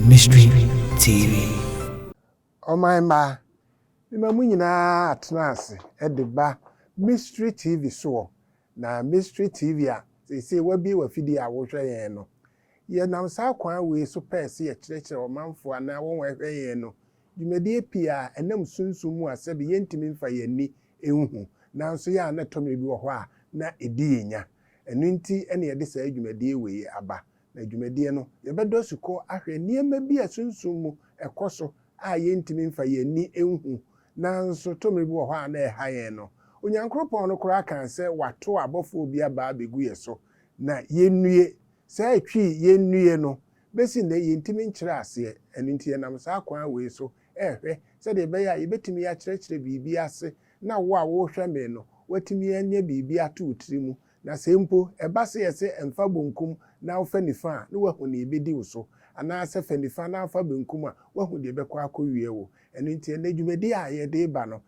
Mystery TV. Ɔman mma, mema mo nyinaa atena ase de ba Mystery TV soɔ, na Mystery TV a seesei wabue w'afidie a wohwɛ yɛn no, yɛnam saa kwan wei so pɛɛ sɛ yɛkyerɛkyerɛ ɔmanfoɔ anaa wɔn a ɛhwɛ yɛn no Dwumadie pii a ɛnam sunsum mu a sɛbe yɛntumi mfa yɛn ani nhu, nanso yɛ a na ɛtɔ mmerɛ bi wɔ hɔ a na ɛdi yɛn nya. Ɛno nti na yɛde saa dwumadie wei yi aba. Na dwumadie no, yɛbɛdɔ asukɔ ahwɛ nneɛma bi a sunsum mu ɛkɔ so a yɛntumi mfa yɛn ani nhu, nanso tɔ mmerɛ bi wɔ hɔ a na ɛha yɛn no. Onyankoropɔn no koraa kaa sɛ wato abɔfoɔ bi aba abɛgu yɛ so na yɛnnue. Saa ɛtwi yɛnnue no, Besi nnɛ, yentumi nkyerɛ aseɛ, ɛno nti yɛnam saa kwan wei so rehwɛ sɛdeɛ ɛbɛyɛ a yɛbɛtumi akyerɛkyerɛ biribi ase na wo a worehwɛ me no, woatumi anya biribi ato wo tiri mu. Na sɛ mpo ɛba sɛ yɛse mfa bonkum na wofa nifa a, na woahu nea ɛbɛdi wo so, anaasɛ fa nifa na fa benkum a, woahu deɛ ɛbɛkɔ akɔwie wo. Ɛno nti ɛnnɛ dwumadie a yɛde reba no,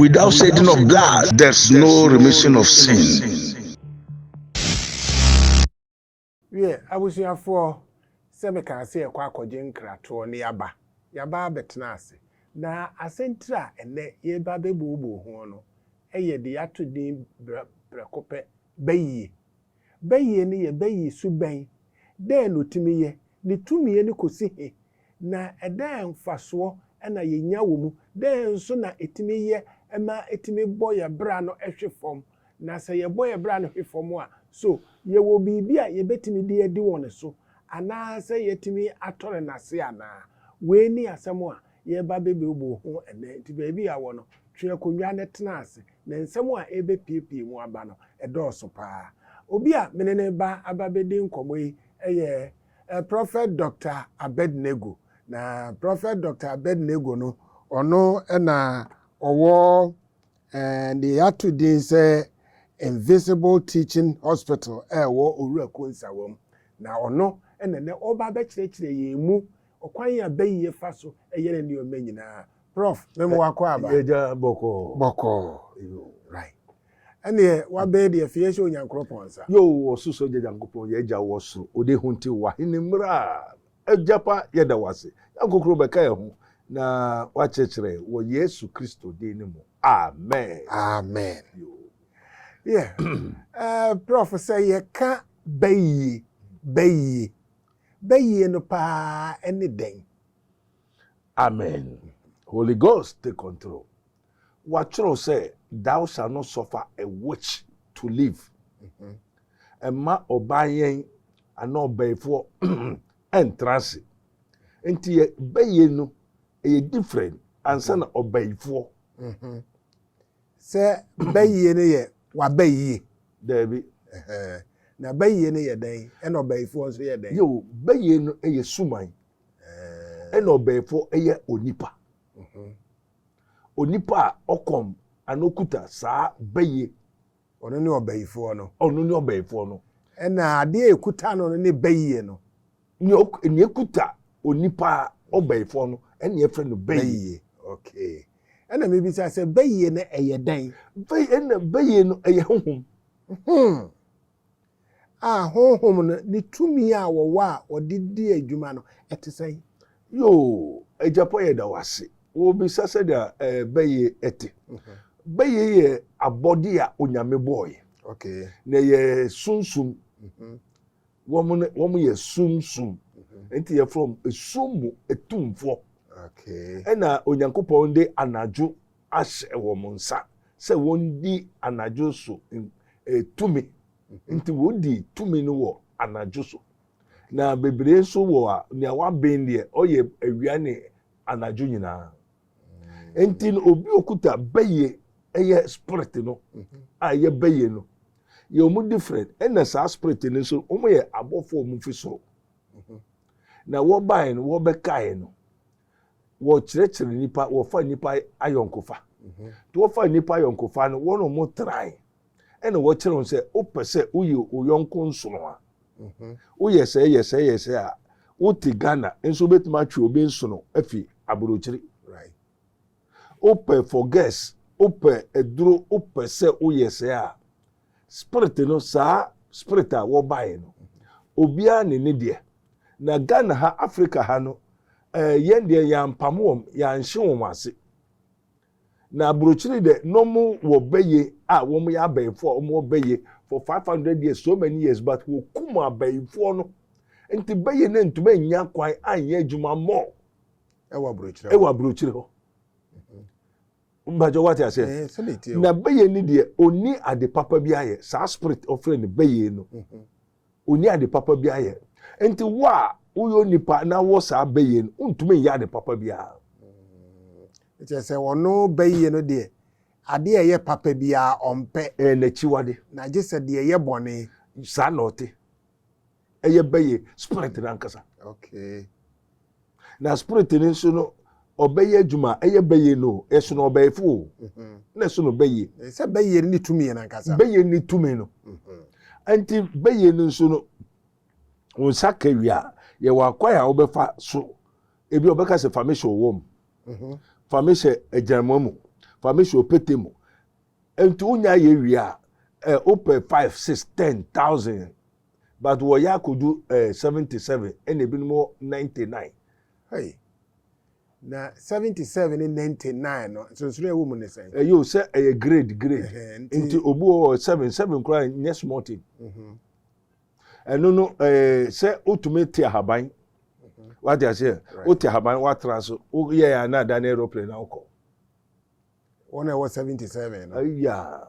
Without shedding of blood, there's no remission of sin. Wiɛ, abusuafoɔ, sɛ mekaa sɛ yɛkɔ akɔgye nkratoɔ ne yɛaba, yɛaba abɛtena ase. Na asɛntire a ɛnnɛ yɛreba abɛbuobuu ho no yɛ deɛ yɛato din prɛko pɛ, Ba Yie. Bɛyie no yɛ bɛyie su bɛn? Dɛn na ɔtumi yɛ? Ne tumi ani kɔsi he? Na dɛn mfasoɔ na yɛnya wɔ mu? Dɛn nso na ɛtumi yɛ ma ɛtumi bɔ yɛ bra no hwe fam? Na sɛ yɛbɔ yɛ bra no hwe fam a, so yɛwɔ biribi a yɛbɛtumi de adi wɔn so anaasɛ yɛatumi atɔre no ase anaa? Wei ne asɛm a yɛreba abɛbuebue ho ɛnnɛ. Enti baabi a wɔ no, twe akonnwa na tena ase, na nsɛm a ɛrebɛpuepue mu aba no, ɛdɔɔso paa. Obi a me ne no reba aba abɛdi nkɔmmɔ yi yɛ Prɔfɛt Dɔkta Abednego. Na Prɔfɛt Dɔkta Abednego no, ɔno na ɔwɔ deɛ yɛato din sɛ Invisible Teaching Hospital a ɛwɔ Owura Konsawam. Na ɔno na ɛnnɛ ɔreba abɛkyerɛkyerɛ yɛn mu Ɔkwan a bɛn yɛ fa so yɛ ne nneɛma nyinaa? Prof. Me mo wa kɔ aba. Agya bɔkɔɔ. Bɔkɔɔ. Yoo. Right. Ɛneɛ wabɛyɛ deɛ fɛ yɛ hyɛ Onyankoropɔn nsa. Yoo wɔ so so agya Nyankopɔn yɛ agya wɔ so ode ho nti wa hene mmra agya pa yɛ da wase yɛ nkokoro bɛ ka yɛ ho na wa kyerɛkyerɛ wɔ Yesu Kristo din ne mu amen. Amen. Yoo. Yeah. Eh, Prof. Sɛ yɛ ka bɛyie, bɛyie. bɛyie no paa ne dɛn? Amen. Holy Ghost take control. Wɔatwerɛ sɛ thou shall not suffer a witch to live. Mhm. Ɛma ɔbaa yɛn anaa ɔbɛyifoɔ ɛntra ase. Nti yɛ bɛyie no ɛyɛ different ansa na ɔbɛyifoɔ. Mhm. Sɛ bayie no yɛ w'abayie. Daabi. Ɛhɛn. Na bayie no yɛ dɛn? Ɛna ɔbayifoɔ nso yɛ dɛn? Yeo, bayie no yɛ suman. Ɛɛn. Ɛna ɔbayifoɔ yɛ onipa. Mhm. Onipa a ɔkɔm anaa ɔkuta saa bayie. Ɔno ne ɔbayifoɔ no. Ɔno ne ɔbayifoɔ no. Ɛna adeɛ a ɛkuta no no ne bayie no. Nea ok nea ekuta onipa ɔbɛyifoɔ no ɛna yɛfrɛ no bɛyie. Okay. Ɛna mebisa sɛ bɛyie no ɛyɛ dɛn? Bɛyie ɛna bɛyie no ɛyɛ honhom. Hmm. A honhom no ne tumi a wɔwɔ a wɔde di adwuma no ɛte sɛn? Yoo, agyapɔ yɛ da wase. Wɔbisa sɛdeɛ ɛɛ bɛyie ɛte. Mhm. Bɛyie yɛ abɔde a onyame bɔɔyɛ. Okay. Na yɛ sunsum. Mhm. Wɔn no wɔn yɛ sunsum. Nti yɛfrɛ wɔn esum mu atumfoɔ. Ɛna Onyankopɔn de anadwo ahyɛ wɔn nsa sɛ wɔndi anadwo so tumi. Nti wɔdi tumi no wɔ anadwo so. Na bebree nso wɔ a, nea waben deɛ, ɔyɛ awia ne anadwo nyinaa. nti no obi okuta bɛyɛ ɛyɛ spirit no mhm. a ɛyɛ bɛyɛ no yɛ wɔn different ɛna saa spirit no nso wɔn yɛ abɔfo a wɔn fi soro mhm. na wɔbaeɛ no wɔbɛkaeɛ no wɔkyerɛkyerɛ nipa wɔfa nipa ayɔnkofa mhm. nti wɔfa nipa ayɔnkofa no wɔn a wɔn trae. ɛna wɔkyerɛ wo sɛ wopɛ sɛ woyɛ wo yɔnko nsono a mhm. woyɛ sɛ yɛ sɛ yɛ sɛ a wote ghana nso wobɛtumi atwe obi nsono afi aburokyiri wopɛ for gas wopɛ aduro wopɛ sɛ woyɛ sɛ a spirit no saa spirit a wɔbaeɛ no obiara ne ne deɛ na ghana ha africa ha no eh, yɛn deɛ yɛampam wɔm yɛanhye wɔn ase Na abrokyire dɛ na ɔmo wɔ bɛyɛ a ɔmo yɛ abɛyifoɔ a ɔmo wɔ bɛyɛ for five hundred years so many years but wɔ kum abɛyifoɔ no nti bɛyɛ no ntoma nnya kwan anyɛ adwuma more ɛwɔ abrokyire ɛwɔ abrokyire hɔ mpakyɛ wate aseɛ eh, na bɛyɛ no deɛ ɔni ade papa bi ayɛ saa spirit ɔfrɛ no bɛyɛ no. Mm -hmm. Onni ade papa biara yɛ. Enti wo a woyɛ onipa na wowɔ saa bɛ yie no, wontumi nyɛ ade papa biara. Mm. Kyerɛ sɛ ɔno bɛ yie no deɛ, adeɛ a ɛyɛ papa biara ɔmpɛ. Ɛyɛ n'akyiwade. Na gye sɛ deɛ ɛyɛ bɔne. Saa na ɔte. Ɛyɛ bɛ yie, spirit no ankasa. Okay. Na spirit no nso no ɔbɛyɛ adwuma ɛyɛ bɛyɛ no ɛsono ɔbɛyɛfo o mhm. na ɛsono bɛyɛ. sɛ bɛyɛ no ne tumi yɛ nankasa. bɛyɛ ne tumi no mhm. nti bɛyɛ no nso no wɔn nsa kawia yɛwɔ akwan a wɔbɛfa so ebi ɔbɛka sɛ fami hyɛ ɔwɔ mu mhm. fami hyɛ agyinamɔ mu fami hyɛ ɔpete mu nti wonya yɛ wia ɛ wopɛ five six ten thousand. But wɔyɛ akodu eh seventy seven ɛna ebinom wɔ ninety nine. Hey. Na seventy seven ne ninety nine no nsonsonoe a ɛwɔ mu ne sɛn? Ɛyɛ o sɛ ɛyɛ grade grade. Ɛhɛn, nti- Nti obi wɔ hɔ seven seven koraa nyɛ small thing. Mhm. Ɛno no eh sɛ wotumi te ahaban. Wate aseɛ? Right. Wote ahaban woatra so woyɛ a na ada ne aeroplane na wokɔ. Wɔn a ɛwɔ seventy seven no. Ayaa.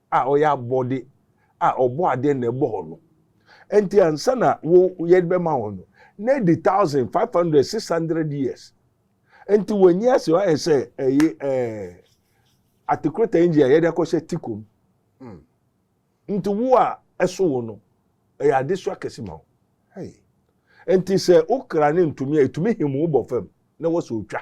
a ɔyɛ abɔde a ɔbɔadeɛ na ɛbɔ hɔ no. Ɛnti ansa na wo yɛde bɛma hɔ no, na adi thousand, five hundred, six hundred years. Ɛnti w'ani ase ayɛ sɛ ɛyi ɛɛ atekoreta engine a yɛde akɔhyɛ tiko mu. Hmm. Nti wo a ɛso wo no, ɛyɛ adesoa kɛse ma wo. Hey. Ɛnti sɛ wo kra no ntumi a, ɛtumi him wo bɔ fam na wɔ sɛ ɔtwa.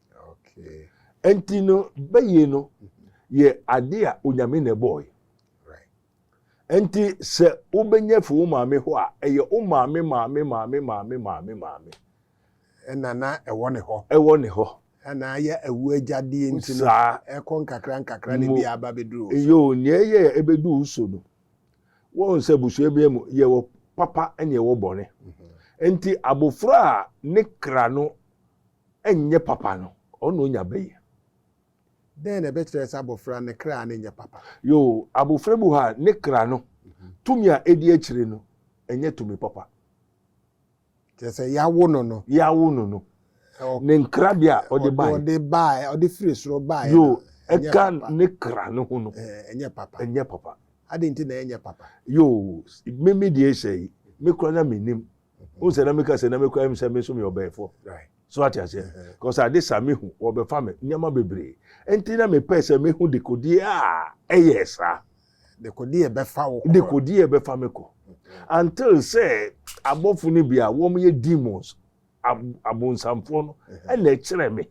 Okay. Nti no bɛyie no yɛ ade a onyame na ɛbɔɔe. Nti sɛ wobɛnya fi wo maame hɔ a ɛyɛ wo maame maame maame maame maame maame. Ɛna na ɛwɔ ne hɔ. Ɛwɔ ne hɔ. Ɛna ayɛ awu agyadeɛ nti no ɛkɔ nkakra nkakra na bi aba bɛduru wo so. Yoo nea ɛyɛ a ɛbɛdu wo so no wɔn sɛ busua bi mu yɛwɔ papa ɛna ɛwɔ bɔne. Mhm. Nti abofra a ne kra no Ɛnyɛ papa no, ɔno na onya bɛ yi. Dɛn na ɛbɛkyerɛ sɛ abofra ne kra no nyɛ papa? Yoo, abofra bi wɔ hɔ a, ne kra no tumi a edi akyiri no, ɛnyɛ tumi papa. Kyerɛ sɛ, yɛawo no no. Yɛawo no no. Ne nkrabea a ɔde bae. Ɔde bae, ɔde firi soro bae no, ɛnyɛ papa. Yoo, ɛka ne kra no ho no. Ɛnyɛ papa. Ɛnyɛ papa. Adɛn nti na ɛnyɛ papa? Yoo, me me deɛ hyɛ yi, me koraa na minnim. wohu sɛ na meka sɛ na mekɔ ayim sɛ me nso meyɛ ɔbɛɛfoɔ so ate aseɛ because ade sa mehu wɔbɛfa me nneɛma bebree nti na mepɛ sɛ mehu dekodeɛ a ɛyɛ saa dekodeɛ bɛfa wo kɔ dekodeɛ bɛfa me kɔ until sɛ abɔfo no bi a wɔyɛ demons abonsamfoɔ no ɛna ɛkyerɛ me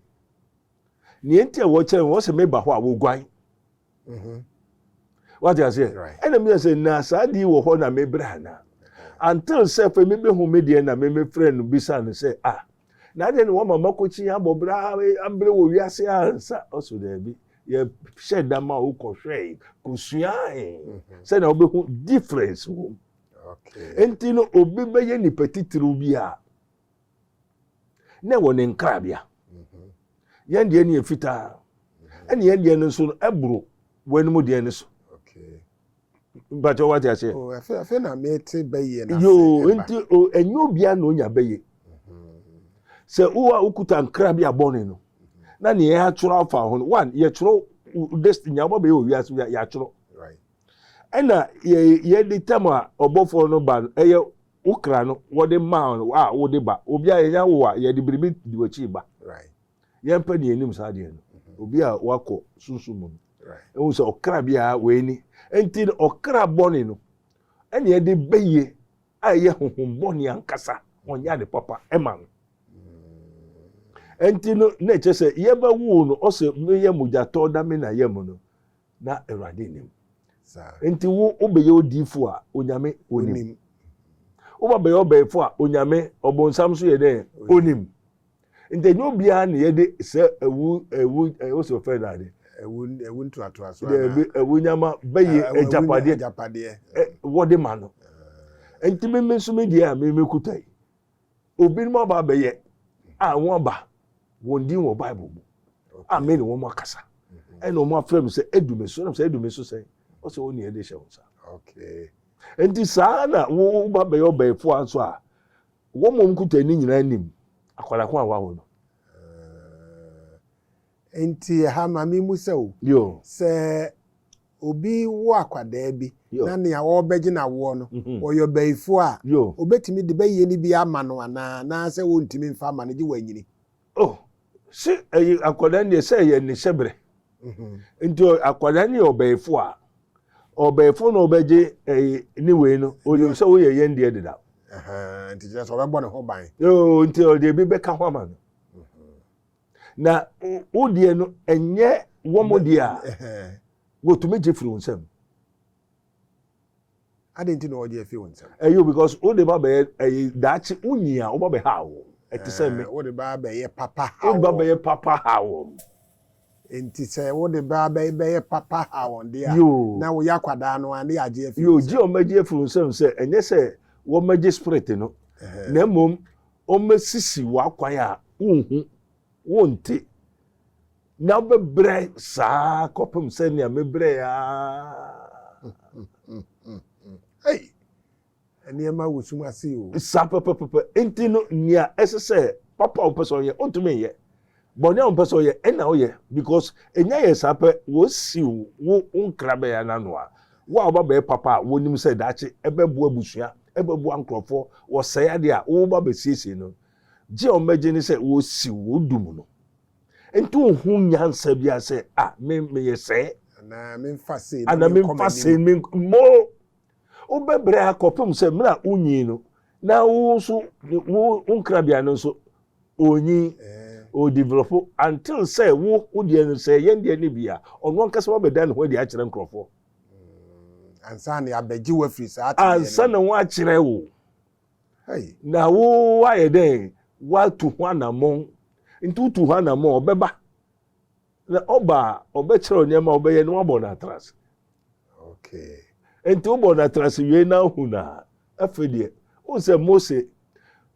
nea nti a wɔkyerɛ me wɔsɛ meba hɔ a wɔguan Mhm. wate aseɛ ɛna meyɛ sɛ na saa adeɛ wɔ hɔ na mebrɛ anaa until sɛ fɛ mebehu me deɛ na memefrɛ no bisa no sɛ a na adeɛ ne wɔma makɔkyi abɔ berɛ abrɛ wɔ wiase ansa ɔso daabi yɛhyɛ da ma wokɔhwɛe kɔsuae mhm. sɛnea wobɛhu difference wom nti no obi bɛyɛ nipa titiriw bi a na ɛwɔ ne nkrabea yɛn deɛ ne yɛ fitaa ɛne yɛn deɛ no nso no ɛboro wɔn anim deɛ no so mpakyɛ wate aseɛ oh, afei na mete bɛyɛ no yoo nti ɛnyɛ obiara na onya bɛyɛ sɛ wo a wokuta nkra bi abɔne no na ne yɛ atwerɛ afa ho no one yɛtwerɛ destiny a wobɛbɛyɛ wɔ wiase yɛatwerɛ ɛna yɛde tam a ɔbɔfoɔ no ba no ɛyɛ Wo kra no, wɔde ma wo a wode ba. Obi a yɛnya wo a, yɛde biribi di w'akyi ba. Yɛmpɛ nea enim saa adeɛ no. Obi a wakɔ sunsum mu no, ehu sɛ ɔkra bi a wei ni. Enti no, ɔkra bɔne no, ɛnea ɛde ba yie a ɛyɛ honhom bɔne ankasa, ɔnyɛ ade papa ma no. Enti no, na ɛkyerɛ sɛ yɛbɛwoo no, ɔse, Meyɛ mogyatɔ na me na yam no. na Awurade nim. Nti wo wobɛyɛ odiifo a Onyame onim. Woba bɛyɛ ɔbɛɛfo a Onyame ɔbonsam so yɛ dɛ onim. Nti ɛnyɛ obiara na yɛde sɛ ɛwu ɛwu ɛwɔ sɛ ɔfɛ na ade. Ɛwu ɛwu ntoatoa so anaa. Ɛbi ɛwu nyama bɛyɛ agyapadeɛ. Agyapadeɛ. Wɔde ma no. Nti mi mi nso mi deɛ a mi mi kuta yi. Obinom aba abɛyɛ a wɔn aba wɔn din wɔ bible mu a me ne wɔn akasa mhm. ɛna wɔn afrɛ me sɛ edu me so ɛna sɛ edu me so sɛn ɔsɛ wɔn nea ɛde hyɛ wɔn nsa nti saa na wɔn ba bɛyɛ ɔbɛɛfo a nso a wɔn mom kuta ani nyinaa nim akwadaa ko a wawo no. Eh, nti ɛha maame mu sɛ o sɛ obi wo akwadaa bi na nea ɔrebɛgye no awoɔ no, ɔyɛ ɔbayifoɔ a, ɔbɛtumi de bɛyie no bi ama no anaa? Anaasɛ ɔntumi mfa mma no gye wanyini? Oh, se ɛyɛ akwadaa no deɛ, sɛ ɛyɛ ne hyɛberɛ. Nti akwadaa no yɛ ɔbayifoɔ a, ɔbayifoɔ na ɔbɛgye ɛyɛ ne wei no, ɔnim sɛ woyɛ yɛn deɛ deda. Nti kyerɛ sɛ ɔbɛbɔ ne ho ban. Yoo, nti ɔde ebi bɛka ho ama no. na wo deɛ no ɛnyɛ wɔn deɛ a wɔtumi gye firi wo nsam adi nti na ɔgye afi wɔn nsam ɛyɛ because wo de ba bɛyɛ ɛyɛ daakye wo nyi a wo ba bɛ ha wɔn ɛte sɛ me wo de ba bɛyɛ papa ha wɔn wo ba bɛyɛ papa ha wɔn nti sɛ wo de ba bɛyɛ bɛyɛ papa ha wɔn deɛ a na wo yɛ akwadaa no a ne yɛ agye afi wɔn nsam yoo gye wɔn agye afi wɔn nsam sɛ ɛnyɛ sɛ wɔn agye spirit no na mmom. wɔasisi w'akwan a wunhu, wonte, na wobɛbrɛ saa kɔpem sɛnea mebrɛe ara. Ei! Nneɛma wɔ sum ase o. Saa pɛpɛpɛpɛ. Enti no, nea ɛsɛ sɛ papa a ɔpɛ sɛ ɔyɛ, ontumi nyɛ. Bɔne a ɔmpɛ sɛ ɔyɛ ɛna ɔyɛ because enya yɛ saa pɛ wɔasiw wo wo nkrabɛɛ no ano a wo a woba bɛyɛ papa a wonim sɛ daakye ɛbɛboa abusua ɛbɛboa nkurɔfɔ wɔsɛe adeɛ a woba bɛsiesie no gye a wɔbɛgye ne sɛ wɔsiw wo wo du mu no nti wonhu nyansa biara sɛ ah me meyɛ sɛɛ Anaa memfa sei na anaa menkɔ memfa m'anim. sei me more Wobɛbrɛ akɔpem sɛ mmerɛ a wonyin no, na wo nso wo nkrabea no nso onyin, ɔdevelɔpo, until sɛ wo wo deɛ no sɛ yɛn deɛ no bi a, ɔno ankasa wabɛda ne ho adi akyerɛ nkurɔfoɔ. Ansa na yɛabɛgye wo afiri saa tebea no mu. Ansa na wɔakyerɛ wo. Na wo ayɛ dɛn? Woatu ho anammɔn. Nti wotu ho anammɔn a, ɔbɛba. Na ɔba a, ɔbɛkyerɛw nneɛma a ɔbɛyɛ na wabɔ no atrase. Okay. Nti wobɔ no atrase wie na ahu no a, afei deɛ, wohu sɛ Mose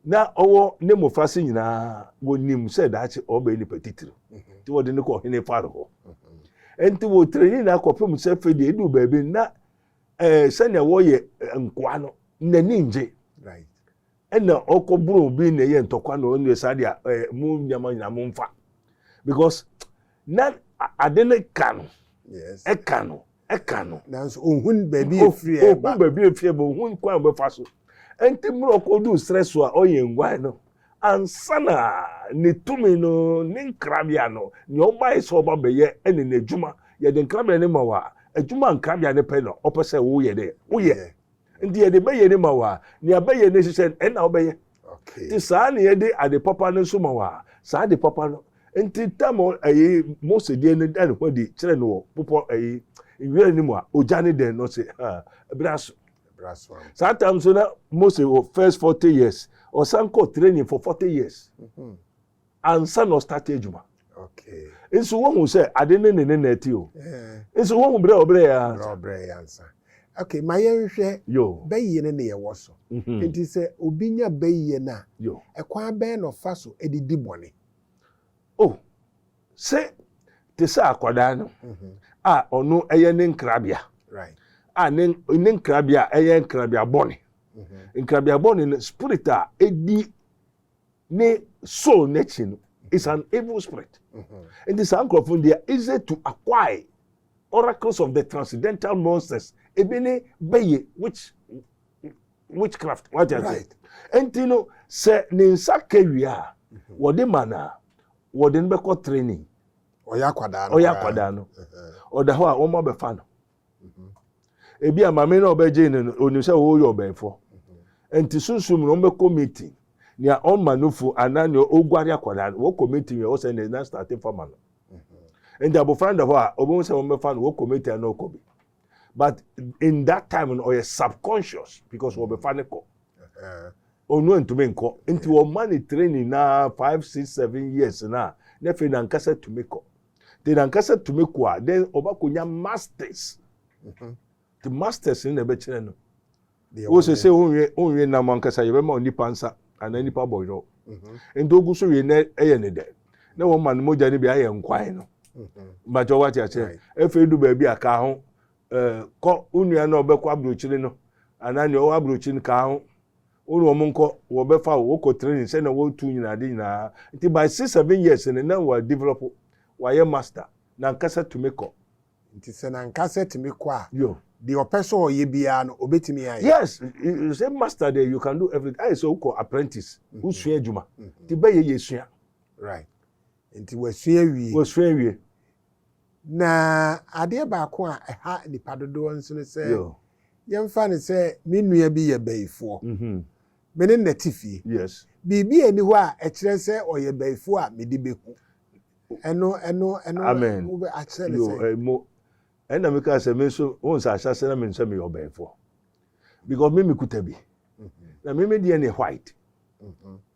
na ɔwɔ ne mmofra se nyinaa wɔnim sɛ daakye ɔbɛyɛ nipa titiri. Mhm. Nti wɔde no kɔ hene Faro hɔ. Mhm. Nti wɔtrani na akɔpem sɛ afei deɛ ɛduu baabi na eh, sɛnea wɔyɛ eh, nkoa no, n'ani ngye. Right. Ɛna ɔkɔ boro obi na ɛyɛ ntɔkwa na ɔno saa deɛ ɛɛ eh, mo nneɛma nyinaa mo nfa because na ade no ka no ɛka no ɛka no. nanso ohun baabi efiri ɛba ohun baabi efiri ɛba ohun kwan a ɔbɛfa so ɛnti mmerɛ ɔkɔ du srɛ so a ɔyɛ nguan no ansa na ne tumi no ne nkrabea no nea ɔbae sɛ ɔba bɛyɛ ɛne n'adwuma yɛde nkrabea no ma wa adwuma nkrabea no pɛ na ɔpɛ sɛ woyɛ dɛ woyɛ. nti yɛde bɛyɛ ne ma wo a nea bɛyɛ ne hyehyɛ no ɛna wobɛyɛ nti saa ne yɛde ade papa no nso ma wo a saa ade papa no nti tam ɛyi mose deɛ no da ne ho adi kyerɛ no wɔ popɔ ɛyi nwura no mu a ogya ne dɛn no se ɛbra so saa tam so na mose wɔ first forty years ɔsan kɔ training for forty years. Mm -hmm. ansa na ɔstarte adwuma nso wohu sɛ ade ne ne ne na ati o nso wohu berɛ a ɔbrɛ yɛ ansa ɔbrɛ yɛ ansa okay ma yɛnhwɛ bɛyie no ne yɛwɔ so mhm. nti sɛ obi nya bɛyie no a ɛkwan bɛn na ɔfa so de di bɔne o oh, sɛ te sɛ akwadaa no mhm. a ɔno ɛyɛ ne nkrabea a ne nkrabea ɛyɛ nkrabea bɔne mhm. nkrabea bɔne no spirit a ɛdi ne soul n'akyi no is an evil spirit nti saa nkurɔfoɔ no they are easy to acquire oracles of the transcendental monsters ebi ne bɛyɛ which witchcraft wagye ase nti no sɛ ne nsa kawia a wɔde ma no a wɔde no bɛkɔ training ɔyɛ akwadaa no ɔyɛ akwadaa no ɔda hɔ a wɔn abɛfa no ebi a maame na ɔbɛgye no no onim sɛ ɔyɛ ɔbɛnfo nti sunsun mu na ɔbɛkɔ meeting nea ɔma no fu anaa nea ɔguare akwadaa no wɔkɔ meeting yɛ ɔsɛ ne na start fama no nti abofra da hɔ a ɔbɛhu sɛ wɔbɛfa no wɔkɔ meeting a na ɔkɔ bi but in that time no ɔyɛ subconscious because wɔbɛfa no kɔ ɔno antumi nkɔ nti wɔma ne training na five six seven years na na afei nankasa tumi kɔ de nankasa tumi kɔ a then ɔbɛkɔnya masters mhm. te masters no na ɛbɛkyerɛ no wo sɛ sɛ wonwe nam ankasa yɛbɛma onipa nsa anaa mhm. nipa bɔyɔ mhm. nti ogu so wie nɛ ɛyɛ ne dɛ na wɔma no mogya no bi ayɛ nkwan no mbakyɛ wate akyerɛ afei du baabi a kaa ho kɔ wo nua no a ɔbɛkɔ aburokyire no anaa nea ɔwɔ aburokyire no kaa ho Wo ne wɔn nkɔ, wɔbɛfa wo, wokɔ training sɛnea wɔtu nyinaa, ade nyinaa. Nti by six, seven years no, na wa develop, wayɛ master, n'ankasa tumi kɔ. Nti sɛ n'ankasa tumi kɔ a, Yo. deɛ ɔpɛ sɛ ɔyɛ biara no, ɔbɛtumi ayɛ. Yes, sɛ master deɛ, you can do everything, ayɛ sɛ wokɔ apprentice, wosua adwuma, nti bɛyɛ yɛ sua. Right. Nti wasua awie. Wasua awie. Na adeɛ baako a ɛha nnipa dodoɔ nso ne sɛ, Yo. yɛmfa no sɛ me nua bi yɛ bayifoɔ, Mhm. me ne no na ɛte fie. Yes. Biribi nni hɔ a ɛkyerɛ sɛ ɔyɛ bayifoɔ a mede bɛhu. Ɛno, ɛno, ɛno, Amen. wobɛ, akyerɛ no Yo, sɛn? eh, mo. Ɛna me kaa sɛ me nso, wohu sɛ ahyɛase na menim sɛ meyɛ ɔbɛyifoɔ. Because me mekuta bi. Na me me deɛ ne white. Mhm.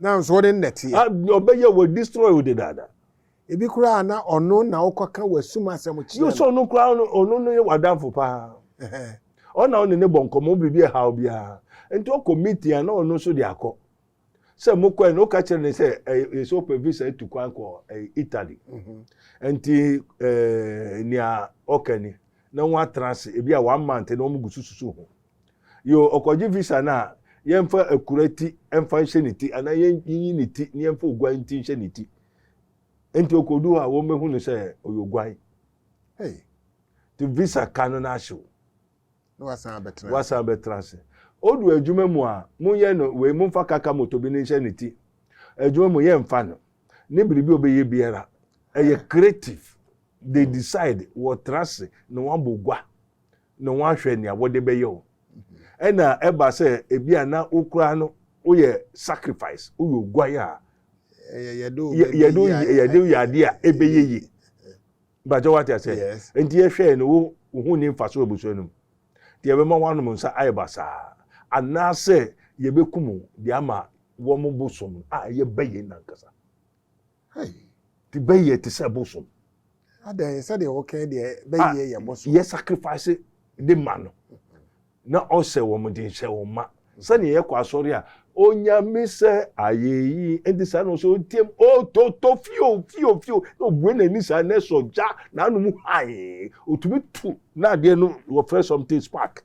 Nanso wo ne no na ɛteɛ. Ah, ɔbɛyɛ wɔ destroy wo dedaada. Ebi koraa na ɔno na wokɔka w'asum asɛm kyerɛ no. Yɛ sɛ ɔno koraa no, ɔno no yɛ w'adamfo paa. Ɔno na wo ne no bɔ nkɔmmɔ, wo biribi ɛhaw biara. Nti ɔkɔ meeting a, na ɔno nso de akɔ. Sɛ mokɔɛ no, woka kyerɛ no sɛ, ɛyɛ sɛ wopɛ visa atu kwan kɔ Italy. Nti nea ɔka ni, na wɔatena ase, ebi a one month na wɔn gu so susu ho. Yoo, ɔkɔgye visa no a, yɛmfa akura ti mfa nhyɛ ne ti anaa yɛnyi ne ti na yɛmfa oguan ti nhyɛ ne ti. Enti okodu hɔ a, wɔbɛhu no sɛ ɔyɛ oguan. Hey! Nti visa ka no no ahyew. Na wasan abɛtena ase. Wasan abɛtena ase. Odu adwuma mu a, monyɛ no wei, momfa kaka moto bi no nhyɛ ne ti. Adwuma mu yɛmfa no. Ne biribi a ɔbɛyɛ biara, ɛyɛ creative. They decide wɔtena ase na wɔabɔ gua. na wɔahwɛ nea wɔde bɛyɛ o. Ɛna ɛba sɛ ebi a na wo koraa no woyɛ sacrifice, woyɛ oguan a yɛde woyɛ adeɛ a ɛbɛyɛ yie. Mpakyɛ wate aseɛ? Nti yɛhwɛɛ no wo wo ho ni mfaso abusua no mu. Nti yɛbɛma woanom nsa ayɛ basaa anaasɛ yɛbɛkum de ama wɔn bosom a ɛyɛ bɛyɛ no ankasa. Hey. Ti bɛyɛ te sɛ bosom. Adɛn sɛdeɛ wɔkɛn deɛ bɛyɛ yɛ bosom. Yɛ sacrifice de ma no. Na ɔsɛ wɔn de nhyɛ wɔn ma. Sɛdeɛ yɛkɔ asɔre a onyame sɛ ayɛ yi nti saa na ɔsɛ ɔtiam ɔtɔtɔ fio fio fio na ɔbue n'ani saa na ɛsɔ gya n'anom hann ɔtumi tu na adeɛ no wɔfrɛ something spark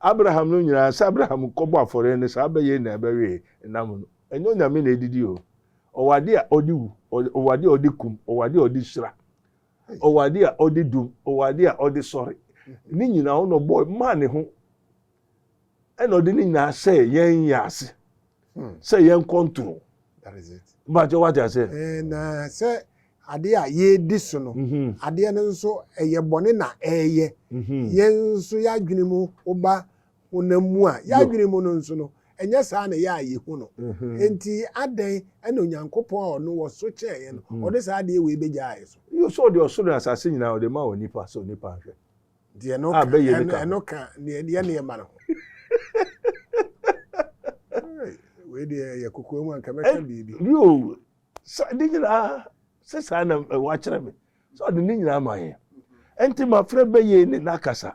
Abraham no nyinaa, sɛ Abraham kɔbɔ afɔreɛ no saa bɛyɛ nyinaa ɛbɛwee nam no. Ɛnyɛ Onyame na ɛdidi o. Ɔwɔ adeɛ a ɔde wu, ɔwɔ adeɛ a ɔde kum, ɔwɔ adeɛ a ɔde hyira, ɔwɔ adeɛ a ɔde dum, ɔwɔ adeɛ a ɔde sɔre. Ne nyinaa ɔno ɔbɔɔ maa ne ho ɛna ɔde ne nyinaa hyɛɛ yɛn yɛn ase. hmm. sɛ yɛn control bàtɛ wà á ti ase. na sɛ adeɛ a yɛredi so no mhm. adeɛ no nso ɛyɛ bɔne na ɛreyɛ mhm. yɛn nso yɛadwene mu woba honam mu a yɛadwene mu no nso no ɛnyɛ saa na ɛyɛ a yɛhu no mhm. nti adɛn ɛna onyankopɔn a ɔno wɔ so kyɛn yɛn no ɔde saa adeɛ wei bɛgyaa yɛ so yɛ sɛ ɔde ɔsoro asase nyinaa ɔde ma wɔ nipa sɛ onipa nhwɛ Deɛ no ka, ɛno ka deɛ deɛ ne ɛma no ho. Wei deɛ yɛ kokoa mu anka mɛka biribi. Yoo, ne nyinaa sɛ saa na wakyerɛ me sɛ ɔde ne nyinaa ma yɛ. Ɛnti mafrɛ bɛyɛ ne n'akasa.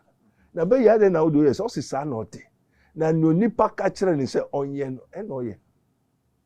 Na bɛyɛ adɛn na wode oyɛ sɛ ɔse saa na ɔte. Na nea onipa ka kyerɛ ne sɛ ɔnyɛ no ɛna ɔyɛ.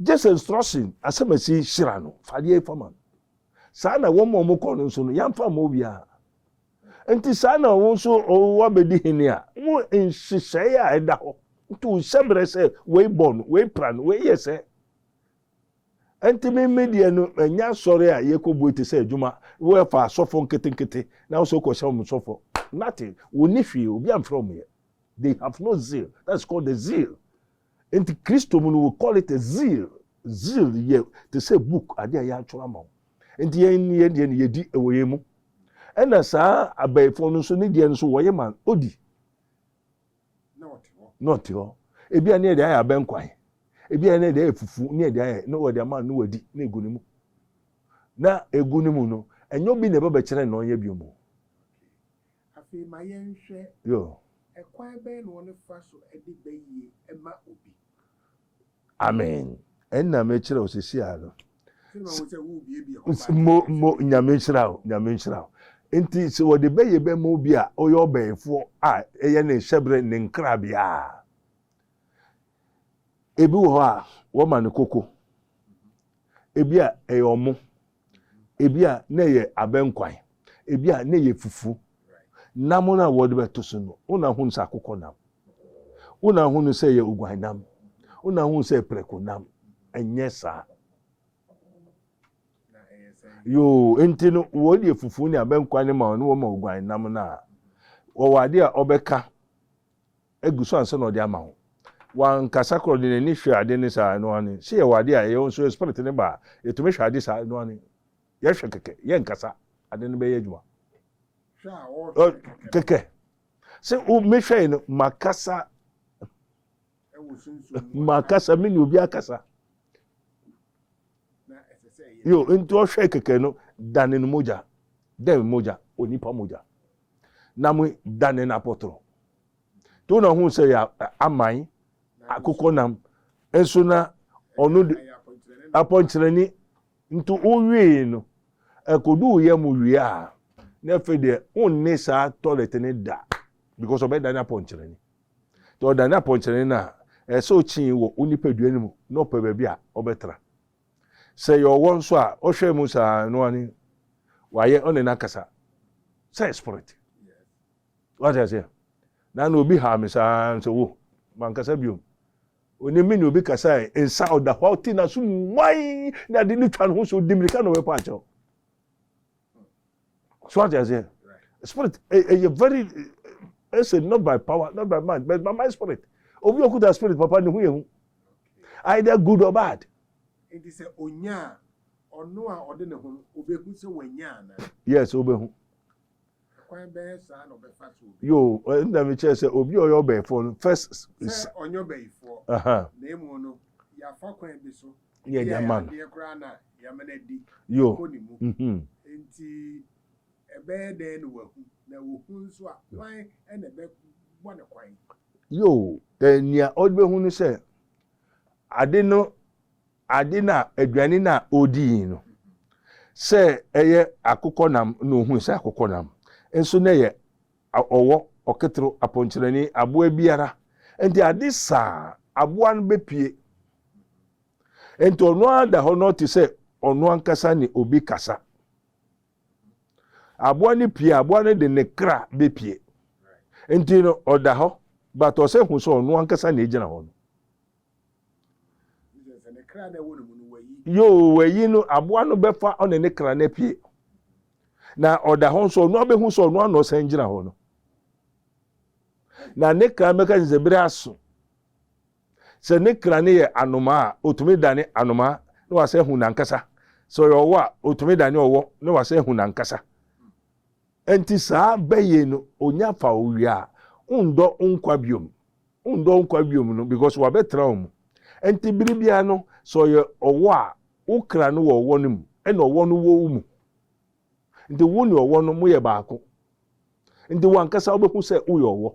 Gyesɛ nsorɔsen asɛmasi hyira no, fa adeɛ yi fa ma no. Saa na wɔn a wɔkɔɔ no nso no, yɛamfa amma obiara. Enti saa na wo nso woabɛdi hene a, mo nhyehyɛeɛ a ɛda hɔ nto wo hyɛberɛ sɛ wei bɔ no, wei pra no, wei yɛ sɛ. Enti me me deɛ no, ɛnyɛ asɔre a yɛkɔbue te sɛ adwuma, wɔfa asɔfo nketenkete na wo sɛ wokɔhyɛ wɔn sɔfoɔ. Nothing. Wɔnni hwee, obi amfrɛ wɔn yɛ. They have no zeal. That's called the zeal. Nti Kristo mu no we call it a zeal. Zeal yɛ te sɛ book ade a yɛatwerɛ ama wo. Nti yɛn ne yɛn deɛ no yɛdi wɔ yɛn mu. Ɛna saa abɛɛfoɔ no nso ne deɛ no nso wɔyɛ ma odi. Na ɔte hɔ. Ebi a ne yɛde ayɛ abɛnkwan. Ebi a ne yɛde ayɛ fufu ne yɛde ayɛ ne wɔde ama ne wadi na egu ne mu. Na egu ne mu no ɛnyɛ obi na ɛbɛbɛkyerɛ na ɔnyɛ bio mu. Afei ma yɛnhwɛ, Ɛkwan bɛn na wɔfa so de ba yie ma obi? Amen. Ɛno na mekyerɛ wo sisi a no. Mo, mo, nyame nhyira wo, nyame nhyira wo. Nti sɛ wɔde bɛyɛ bɛma obi a ɔyɛ ɔbɛyifoɔ a ɛyɛ ne nhyɛberɛ ne nkrabea a, ebi wɔ hɔ a wɔma no koko, ebi a ɛyɛ ɔmo, Ebia na ɛyɛ abɛnkwan, ebia na ɛyɛ fufu. Nam no a wɔde bɛto so no, wo na hunu sɛ akokɔ nam. Wo na hunu sɛ ɛyɛ oguan nam. Wo na hunu sɛ prɛko nam. Ɛnyɛ saa. Yoo, nti no wɔde fufu ne abɛnkwan no ma wɔn na wɔma oguan nam no a, wɔwɔ ade a ɔbɛka agu so ansa na ɔde ama wo. Wankasa koraa ɔde n'ani hwɛ ade ne saa ɛno ane. Sɛ yɛwɔ ade a ɛyɛ nso yɛ spirit ne ba a, yɛtumi hwɛ ade saa ɛno ane. Yɛhwɛ kɛkɛ, yɛnkasa, ade no bɛyɛ adwuma. Kɛkɛ. Sɛ o mehwɛe no makasa makasa me ne obi akasa. Yo, nti ɔhwɛ kɛkɛ no dane no mogya. Dɛn mogya? Onipa mogya. na mo da ne n'apɔtɔrɔ to na ɔhun sɛ yɛ aman akokɔ nam nso na ɔno de apɔnkyerɛni nti wowie no ɛkodu yɛ mo wie a na afei deɛ wonne saa tɔlɛt ne da because ɔbɛda ne apɔnkyerɛni nti ɔda ne apɔnkyerɛni no a ɛsɛ ɔkyii wɔ wo nipadua no mu na ɔpɛ baabi a ɔbɛtra Sɛ yɛ ɔwɔ nso a ɔhwɛ mu saa no wani wayɛ ɔne n'akasa sɛ spirit wate aseɛ na na obi haa me saa nso wo mankasa biom onim me ne obi kasa nsa ɔda hɔ ɔte n'aso mu wan na de ne twa ne ho so ɔdi mirika na ɔbɛpa akyɛw so ate aseɛ spirit ɛyɛ very ɛsɛ not by power not by mind but by my spirit obi okuta spirit papa ne ho yɛ hu either good or bad. nti sɛ onya a ɔno a ɔde ne ho no obehu sɛ wanya ana. yes obehu. kwan bɛyɛ saa na ɔbɛfa so. yoo ɛnna mi kyerɛ sɛ obi a ɔyɛ ɔbɛyifoɔ no first. sɛ ɔnyɛ ɔbɛyifoɔ. na emu no yafa kwan bi so. yɛ yɛ ma no. Yo. Yo, eh, nea ɔbɛhu no sɛ ade no ade na aduane na ɔdi yi no sɛ ɛyɛ akokɔ nam na ɔhu sɛ akokɔ nam nso na ɛyɛ ɔwɔ ɔketoro apɔnkyerɛni aboa biara nti ade saa aboa no bɛpie Enti ɔno ara da hɔ na ɔte sɛ ɔno ankasa ne obi kasa. Aboa no pie, aboa no de ne kra bepie. Enti no ɔda hɔ, but ɔsɛ hu sɛ ɔno ankasa na egyina hɔ no. Yoo, wayi no, aboa no bɛfa ɔne ne kra no apue. Na ɔda hɔ nso, ɔno abɛhu sɛ ɔno ano ɔsan gyina hɔ no. Na ne kra bɛka sɛ bere aso. Sɛ ne kra no yɛ anomaa a, otumi dane anomaa na wasan ahu n'ankasa. Sɛ ɔyɛ ɔwɔ a, otumi dane ɔwɔ na wasan ahu n'ankasa. Enti saa bɛ yei no, onya fa wo wie a, wondɔ wo nkwa biom. Wondɔ wo nkwa biom no because wabɛtra wo mu. Enti bere biara no, sɛ ɔyɛ ɔwɔ a, wo kra no wɔ ɔwɔ no mu ɛna ɔwɔ no wɔ wo mu. Nti wo ne ɔwɔ no moyɛ baako. Nti wo ankasa wobɛhu sɛ woyɛ ɔwɔ.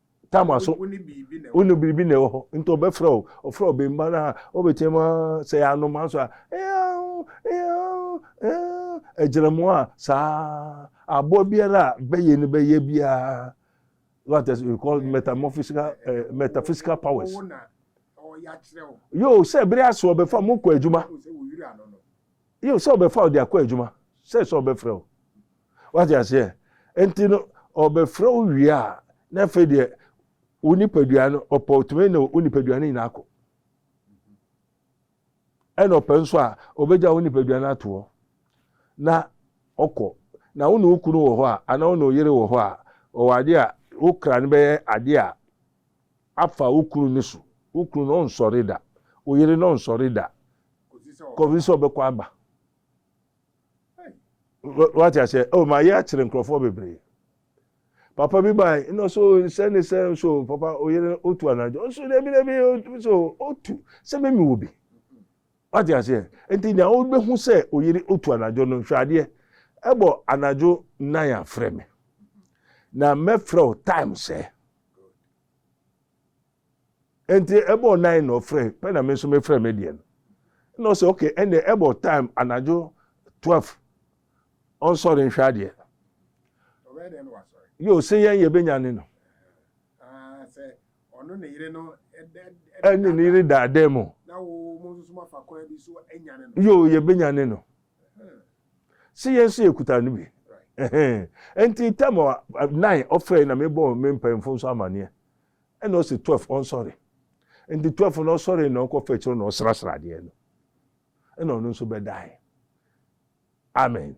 Tam aso. Wo ne biribi na ɛwɔ hɔ. Wo ne biribi na ɛwɔ hɔ. Nti ɔbɛfrɛ wo. Ɔfrɛ wo bɛmba no a, wobɛteam a, sɛ yɛ anoma nso a, eaoo, eaoo, eaoo, agyinamoa a, saa. Aboa biara a bɛyɛ no bɛyɛ biara, what is, we call metamorphosical, eh, metaphysical powers. Ɔwo na ɔyɛ akyerɛ wo. Yoo, sɛ bere aso ɔbɛfa mo kɔ adwuma. Sɛ wo yiri ano no. Yiw, sɛ ɔbɛfa wo de akɔ adwuma, sɛ sɛ ɔbɛfrɛ wo. Woate aseɛ? Enti no, ɔbɛfrɛ wo wie a, na afei deɛ wo nipadua no, ɔpɛ ɔtumi ne wo nipadua no nyinaa kɔ. Ɛna ɔpɛ nso a, ɔbɛgya wo nipadua no ato hɔ na ɔkɔ. Na wo ne wo kunu wɔ hɔ a, anaa wo ne wo yere wɔ hɔ a, ɔwɔ adeɛ a, wo kra no bɛyɛ adeɛ a afa wo kunu no so, wo kunu no ɔnsɔre da, wo yere no ɔnsɔre da kɔsi sɛ ɔbɛkɔ aba. Wate aseɛ? Oh, ma yɛ akyerɛ nkurɔfoɔ bebree. Papa bi baa ɛna so sɛ ne sɛ nso papa oyere otu anadwo nso na ebi na ebi nso otu sɛ mɛmi wɔ bi. Wate aseɛ? Nti nea wobɛhu sɛ oyere otu anadwo no hwɛ adeɛ ɛbɔ anadwo nan afrɛ me na mɛfrɛ wo time sɛ. Good. Enti ɛbɔɔ nine na ɔfrɛ pɛ na me nso mefrɛ me deɛ no. Ɛna ɔsɛ okay ɛnna ɛbɔ time anadwo twelve ɔnsɔre nhwɛ adeɛ. Ɔbɛyɛ dɛn na wasɔre? Yoo se yɛn yɛbɛnya ne no. Ah, sɛ ɔno ne yere no ɛne ne yere daadaa mu. Na wo mo nso mafa kwan bi so anya ne no. Yoo yɛbɛnya ne no. Se yɛn nso yɛkuta no bi. Enti tam a nine ɔfrɛe na mebɔɔ me mpanyimfo nso amanneɛ. Ɛna ɔse twelve ɔnsɔre. Enti twelve no ɔsɔre na ɔkɔfa akyire na ɔsrasra adeɛ no. Ɛna ɔno nso bɛdae. Amen.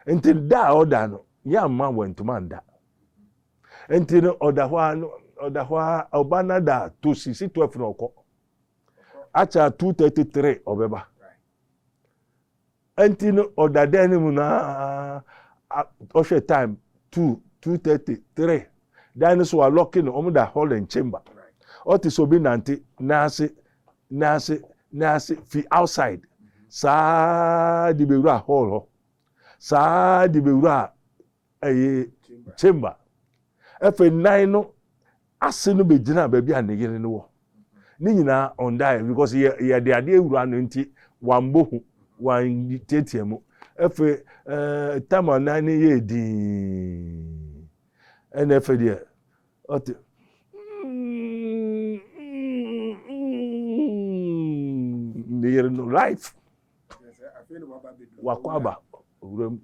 Enti da a ɔda no, yɛamma wantuma nda. Enti no ɔda hɔ a no ɔda hɔ a ɔba no da to sisi twelve na ɔkɔ. Akyɛ a two thirty three ɔbɛba. Ɛnti no ɔda dan no mu no ara, ɔhwɛ time two, two thirty, three. Dan no so wɔalɔke no, wɔn da hall and chamber. Ɔte sɛ obi nante n'ase, n'ase, n'ase fi outside saa de bewura hall hɔ, saa de bewura ɛyɛ chamber ɛfɛ nan no ase no bɛgyina baabi a ne yere no wɔ ne nyinaa ɔndaeɛ because yɛ yɛde adeɛ awura no nti wambɔ hu wantiatia mu ɛfɛ ɛɛ eh, tam a nan no yɛ dii ɛna ɛfɛ deɛ ɔte ne yere no life wakɔ aba owura mu.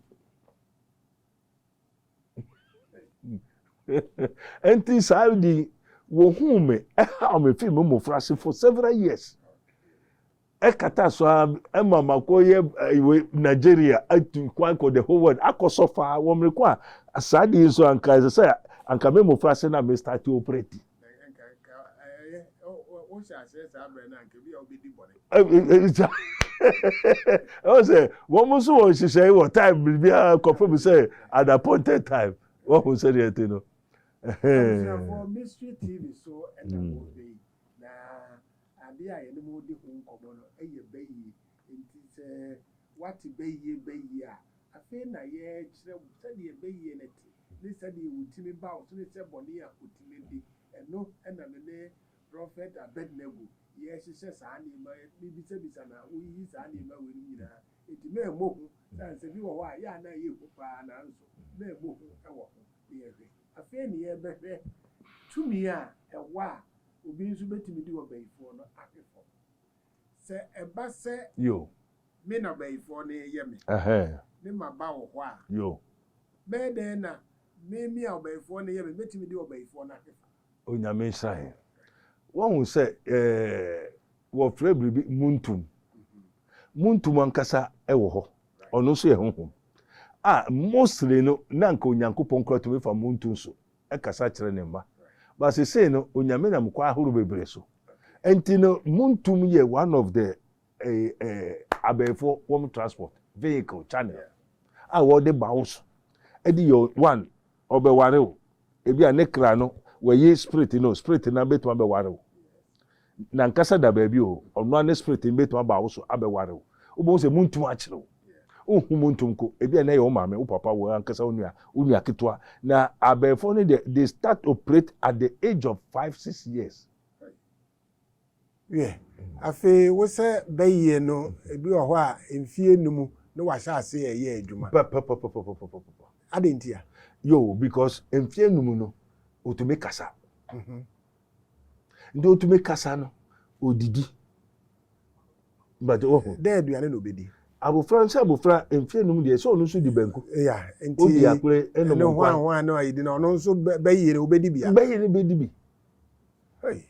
Enti saa ade yi, wɔhuu me, ɛhaw me fii me mmofraase for several years. Ɛkata so ara ɛma makɔyɛ ɛwɔ eh, Nigeria atu kwan kɔ the whole world akɔsɔ faa wɔ mmere ko a saa ade yi nso anka ɛsɛ sɛ anka me mmofraase na me start operate. sɛ wɔn nso wɔn nhyehyɛe wɔ time biribiara kɔfɛ mu sɛ at appointed time wɔn ho sɛdeɛ ɛte no. Ade a yɛne mo redi ho nkɔmmɔ no yɛ bayie, enti sɛ woate bayie bayie a, afei na yɛrekyerɛ wo sɛdeɛ bayie no te, ne sɛdeɛ wɔtumi ba wo so ne sɛ bɔne a wɔtumi di. Ɛno na me ne Prɔfɛt Abednego yɛrehyehyɛ saa nneɛma, mebisabisa na woyiyi saa nneɛma weinom nyinaa, enti mammɔ hu sɛ ansa bi wɔ hɔ a yɛ a na ɛyɛ hu pa ara nanso mammɔ hu wɔ ho. Na yɛhwɛ, afei na yɛrebɛhwɛ tumi a ɛwɔ a Obi nso betumi de ɔbayifoɔ no ape fam. Sɛ ɛba sɛ me na ɔbayifoɔ no reyɛ me, ne maba wɔ hɔ a, bɛyɛ dɛn na meme a ɔbayifoɔ no reyɛ me betumi de ɔbayifoɔ no ape fam? Onyame nhyira yɛn. Woahu sɛ wɔfrɛ biribi muntum. Muntum ankasa wɔ hɔ. Ɔno nso yɛ honhom. A mostly no, na anka Onyankopɔn koraa tumi fa muntum so kasa kyerɛ ne mma. But sesei no Onyame nam kwan ahorow bebree so. Nti no montum yɛ one of the abɛɛfoɔ wɔn transport vehicle channel a wɔde ba wo so de yɛ one ɔbɛware wo. Ebi a ne kra no wɔayi spirit no spirit no ara bɛtumi abɛware wo. N'ankasa da baabi o, ɔno ara ne spirit no betumi aba wo so abɛware wo. Wobɛhu sɛ muntumi ankyere wo. Wonhu mu ntom ko. Ebia nnɛ yɛ wo maame, wo papa, wo ankasa wo nua, wo nua ketewa. Na abayifoɔ no deɛ, they start operate at the age of five, six years. Wiɛ, afei wo sɛ bayie no, ebi wɔ hɔ a, mfie nnum na wahyɛ ase reyɛ adwuma. Pɛpɛpɛpɛpɛpɛpɛpɛpɛ. Adɛn ntia? Yoo, because mfie nnum no, otumi kasa. nti otumi kasa no odidi bàtɛ wɔ ho. dɛ aduane na obedi. abofra nso abofra mfe enum deɛ sɛ ɔno nso di banku. ya nti odi akore enom nkwan. ne hwan hwan na ayedi na ɔno nso bɛyɛ no obedi bia. bɛyɛ no bedi bi. Hey.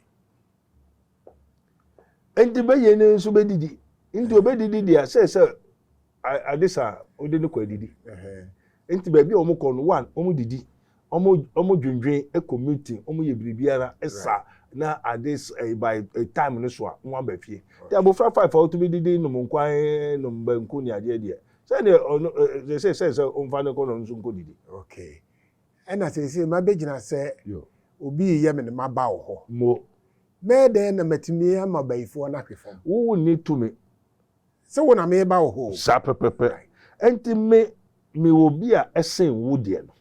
nti bɛyɛ no nso bɛdidi nti obɛdidi deɛ sɛ sɛ Ade sa a, wode no kɔ adidi. Enti baabi a wɔkɔ no, one, wɔdidi, wɔdwendwen, kɔ meeting, wɔyɛ biribiara sa na ade by time no so a, wɔaba fie. Nti abofra five a otumi didi nom nkwan, nom banku ne adeɛ deɛ, sɛdeɛ ɔno seesei sɛn sɛ womfa no nkɔ na ɔno nso nkɔdidi. Okay. Ɛna seesei mabɛgyina sɛ obi reyɛ me ne maba wɔ hɔ. Mɛyɛ dɛn na matumi ama bayifoɔ no ahwe fam? Wonni tumi. Sɛ wo na meba wo hɔ o. Saa pɛpɛpɛ. Ɛnti me, me wɔ bi a ɛsen wo deɛ no.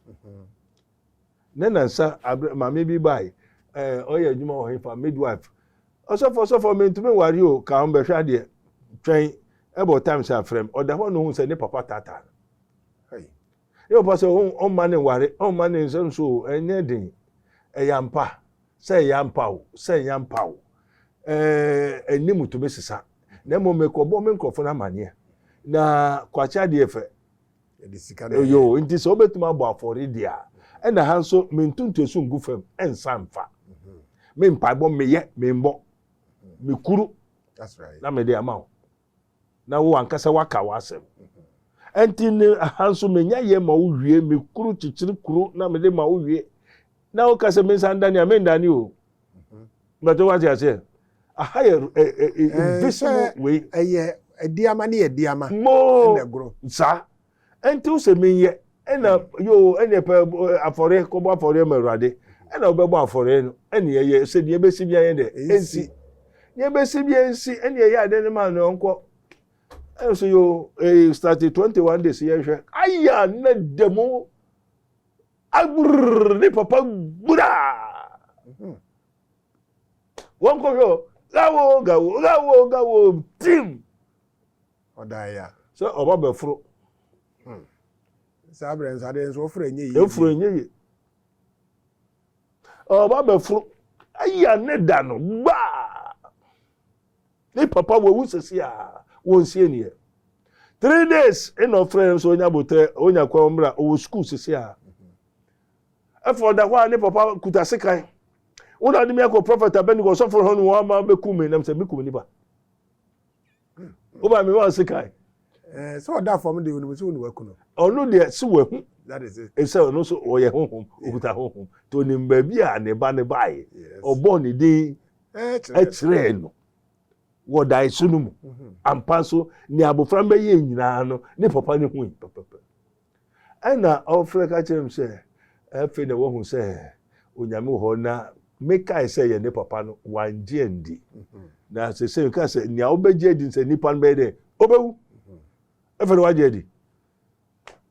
Ne nansa, abrɛ, maame bi bae, ɛɛ, ɔyɛ adwuma wɔ hefa, midwife. Ɔsɔfo, ɔsɔfo, mentumi ware o, ka ho bɛhwɛ adeɛ. Twɛn, ɛbɔ times a frɛ me. Ɔda hɔ na ohun sɛ ne papa taataa no. Hey. Ebi wɔ hɔ sɛ ɔmma no nware, ɔmma no nsɛ nso o, ɛnyɛ den. Ɛyɛ ampa, sɛ ɛyɛ ampa o, sɛ ɛnyɛ ampa o, ɛɛ anim tumi sesa. Na mmom mekɔbɔ me nkurɔfo no amaneɛ. Na kwakye adeɛ fɛ. Ɛde sika na ɛyɛ. Yo, nti sɛ wobɛtumi abɔ afɔre deɛ a, ɛna ha nso mentu ntoasu ngu fam nsa mfa. Mhm. Me mpaebɔ meyɛ, membɔ, mekuru na mede ama wo. na wo ankasa woaka w'asɛm. Ɛnti ne ha nso menya yɛ ma wo wie, me kuru kyekyere kuro na mede ma wo wie. Na woka sɛ mensa ndane a, mendane o. Mɛtɔ wate aseɛ. Aha yɛ invisible wei. Ɛyɛ adiama ne yɛ diama. Mo! Ɛna ɛgoro. Saa. Ɛnte wo sɛ menyɛ? Ɛna yoo ɛneɛ pɛ afɔreɛ kɔbɔ afɔreɛ ma Awurade ɛna wobɛbɔ afɔreɛ no ɛne ɛyɛ sɛ deɛ ɛbɛsi bia yɛ dɛ ɛnsi deɛ ɛbɛsi bia ɛnsi ɛne ɛyɛ adɛ ne ma no ɔnkɔ ɛna sɛ yoo ɛyi start 21 days yɛnhwɛ aya na da mu agbirr ne papa gbraa mhm. wɔnkɔhwɛ o gawo gawo gawo gawo tim Ɔdaa ya. Sɛ ɔba bɛforo. Hmm. Saa berɛ nso adeɛ nso ɔforo ɛnyɛ yie. Ɛforo ɛnyɛ yie. Ɔba bɛforo. Aya ne da no gbaa. Ne papa wawu sɛsi a wɔnsie neɛ. Three days ɛna ɔfrɛ nso ɔnya botrɛ ɔnya kwan mmra ɔwɔ sukuu sɛsi a. Ɛfɔ mhm. ɔda hɔ a ne papa kuta sekan. Wona de mi akɔ prɔfɛt abɛni kɔ sɔfo hɔ no wɔn ama bɛkum mi nam sɛ mi kum nipa. wo ba mi ma ɔsi kan. ɛɛ eh, sɛ ɔda fam de onum sɛ onum akunu. ɔno deɛ si wɔ ehu. that is it. esɛ ɔno nso ɔyɛ honhom okuta honhom to onim baabi a ne ba ne ba yɛ ɔbɔ ne din ɛkyerɛ no wɔ dan so no mu mm-hmm. ampa nso ne abofra mbɛyɛ nyinaa no ne papa ne hu yi. Ɛnna ɔfrɛɛ ka kyerɛɛ me sɛ, Afei na woahu sɛ Onyame wɔ hɔ, na mekae sɛ yɛne papa no, wangye andi. Na seesei meka sɛ, nea wobɛgye adi sɛ nipa no bɛyɛ dɛn? Obewu. Afei na wagye adi.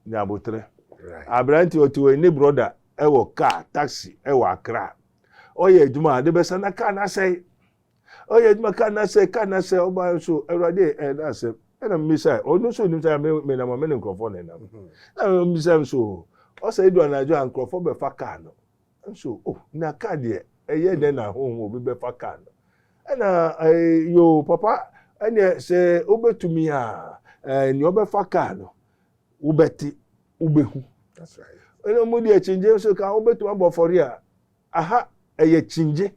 Nya aboterɛ. Aberante ɔte hɔ yi, ne brɔda wɔ kaa, taxi, wɔ Accra. Ɔyɛ adwuma a, ade bɛsa na kaa no asɛe. ɔyɛ adwuma ka na sɛ ka na sɛ ɔba nso awurade ɛna eh, asɛm ɛna mmisa ɔno nso nim sɛ me nam me ne nkurɔfoɔ na ɛnam mhm. na mmisa nso ɔsɛ edu anadwo a nkurɔfoɔ bɛfa kaa no nso oh na kaa deɛ ɛyɛ dɛ na ahohom obi bɛfa kaa no ɛna ɛɛ eh, yoo papa ɛnna sɛ wobɛtumi a ɛɛ eh, nea ɔbɛfa kaa no wobɛte wobɛhu ɛna wɔn deɛ kyingye nso ka wobɛtumi abɔ fɔre a aha ɛyɛ kyingye.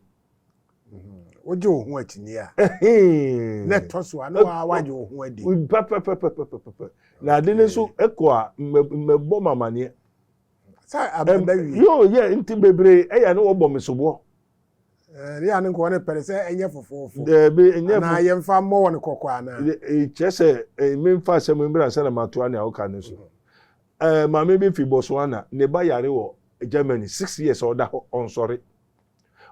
wogye wo ho akyini a na ɛtɔ so a na waa wagye wo ho adi pɛpɛpɛpɛpɛpɛ na ade no nso ɛkɔ a mmɛbɔ m amaneɛ sɛ abɛbɛ wie yoo yɛ nti bebree ɛyɛ ne wɔbɔ me soboɔ ne yɛ ne nkɔɔ ne pɛre sɛ ɛnyɛ fofoofo daabi ɛnyɛ anaa yɛmfa mmɔ wɔn kɔkɔ anaa kyerɛ sɛ memfa asɛm mbra sɛ na matoa ne awoka no so maame bi fi Botswana ne ba yare wɔ Germany six years ɔda hɔ ɔnsɔre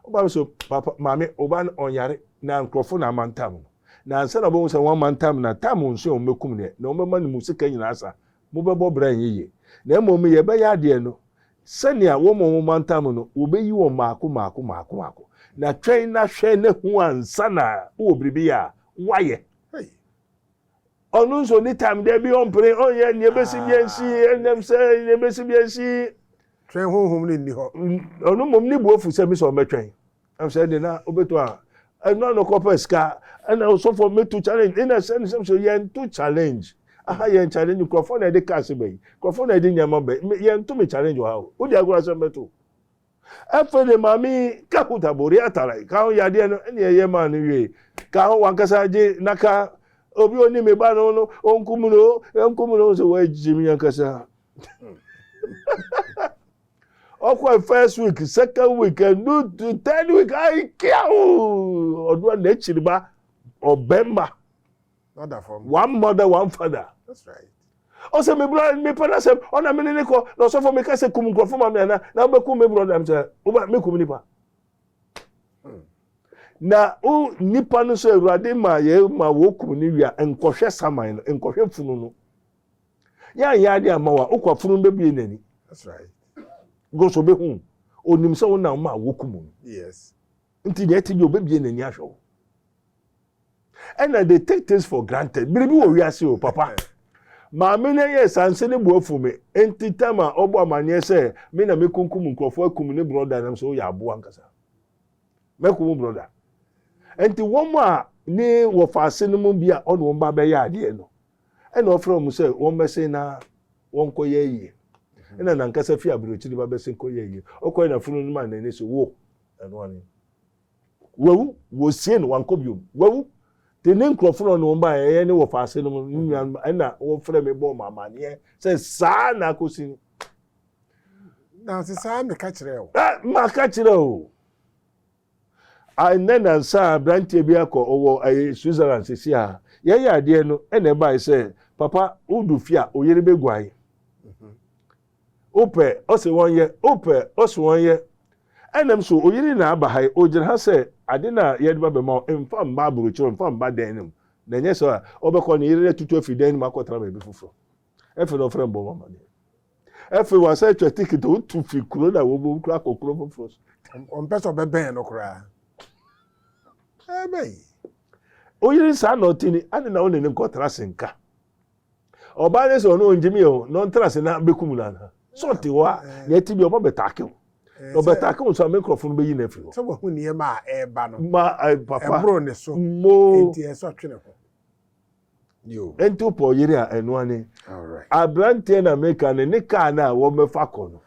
Ɔba no so, Papa, Maame, wo ba no, ɔnyare, na nkurɔfo na amantam no. Na ansa na wɔbɛhu sɛ wɔamantam no a, tam a ɔnsuae a wɔbɛkum no ɛ, na wɔbɛma no mu sika nyinaa sa. Mobɛbɔ bra nyɛ yie. Na mmom yɛbɛyɛ adeɛ no sɛnea wɔn a wɔmantam no, wɔbɛyi wɔn mmaako mmaako mmaako mmaako. Na twɛn na hwɛ na hu ansa na wowɔ biribi yɛ a, woayɛ. Hei! Ɔno nso ɔni time dabi ɔmpene ɔnyɛ nea ebesi bi ansi ɛnam sɛ nea ebesi bi ansi. Twɛn honhom no nni hɔ. Ɔno mmom ne bo afu sɛ me sɛ ɔmɛtwɛn ɛm sɛ ɛde na obeto a ɛno ano kɔpɛ sika ɛna osɔfo meto challenge ɛna sɛ ne sɛm so yɛn to challenge aha yɛn challenge nkurɔfoɔ na ɛde cars bɛyi nkurɔfoɔ na ɛde nneɛma bɛyi yɛn to me challenge wɔ ha o wodi agorɔ asɛm bɛto Afei ne maame yi ka Huta Bori Atara yi ka ho yadeɛ no ɛne ɛyɛ maa no wie ka ho wankasa gye naka obi a ɔni me ba no no ɔnkum no ɔnkum no sɛ wɔagye me ankasa ɔkɔ first week second week ɛnu third week ayi kia o ɔno a n'akyiri ba ɔbɛn ma. Not that from. One mother, one father. That's right. Oh, say me brother, me brother, say, oh, na me ne ko, na so for me kase kum nkrofo ma me na, na be kum me brother, I'm say, oh, me kum nipa. Hmm. Na o nipa no so awurade ma ye ma wo kum ni wia nkɔhwɛ saman no, nkɔhwɛ funu no. Ya ya ade ama wa, okwa funu be bie n'ani. That's right. Go so be hu. Onim sɛ wo na wo ma wo kum no. Yes. Nti deɛ ɛte deɛ obebie n'ani ahwɛ wo. ɛna they take things for granted biribi wɔ wiase o papa maame no yɛ sanse ne bo afu me enti tam a ɔbɔ amanneɛ sɛ me na mekunkum nkurɔfoɔ akum ne brɔda nam sɛ woyɛ aboa nkasa mɛko mu brɔda enti wɔn a ne wɔfa ase no mu bi a ɔne wɔn ba bɛyɛ adeɛ no ɛna ɔfrɛ wɔn sɛ wɔn bɛsen na wɔnkɔyɛ yie ɛna nankasa fi aburokyiri ba bɛsen kɔyɛ yie ɔkɔyɛ na funu no ma n'ani so wo ɛno ane Wawu, wɔsiee no, wankɔ bio. Wawu, te ne nkurɔfo no ɔne wɔn baeɛ, ɛyɛ ne wɔfa ase no, ne nuanom, ɛna wɔfrɛ me bɔɔ me amanneɛ sɛ saa na akɔsi no. Nanse saa meka kyerɛɛ wo. Ah, maka kyerɛ o. Ɛnɛ nansa aberanteɛ bi akɔ ɔwɔ ɛyɛ Switzerland sisi a yɛyɛ adeɛ no ɛna ɛbae sɛ papa wodu fie a oyere bɛguae. Wopɛ? Ɔse wɔnyɛ. Wopɛ? Ɔse wɔnyɛ. Ɛna m so oyere na aba ha yi, ogyina ha sɛ ade no a yɛde ba bɛma wo, mfa mma aburokyire, mfa mma dan no mu, na ɛnyɛ saa a, ɔbɛkɔ ne yere no atutu afi dan no mu akɔtra baabi foforɔ. Afei na ɔfrɛ mbɔ mu amaneɛ. Afei wasan atwa ticket a ɔtu fi kuro no a wɔbɔ mu koraa kɔ kuro foforɔ so. Ɔmpɛ sɛ ɔbɛbɛn no koraa. Ɛbɛyi. Oyere saa na ɔte ni, ade na wo ne no nkɔtra senka. Ɔbaa no sɛ ɔno ɔngye me o na ɔntena ase na bɛkum no anaa? Sɛ ɔte hɔ a na ɛte bi a ɔba bɛtaake wo. Na ɔbɛtaake wo nso a me nkurɔfo no bɛyi no afiri hɔ. Sɛ wahu nneɛma a ɛreba no. Ma papa. Ɛboro ne so. Mo. Enti ɛsɛ ɔtwe ne ho. Yo. Enti wopɛ ɔyere a ɛno ane. Alright. Aberanteɛ na meka no ne kaa no a wɔbɛfa kɔ no.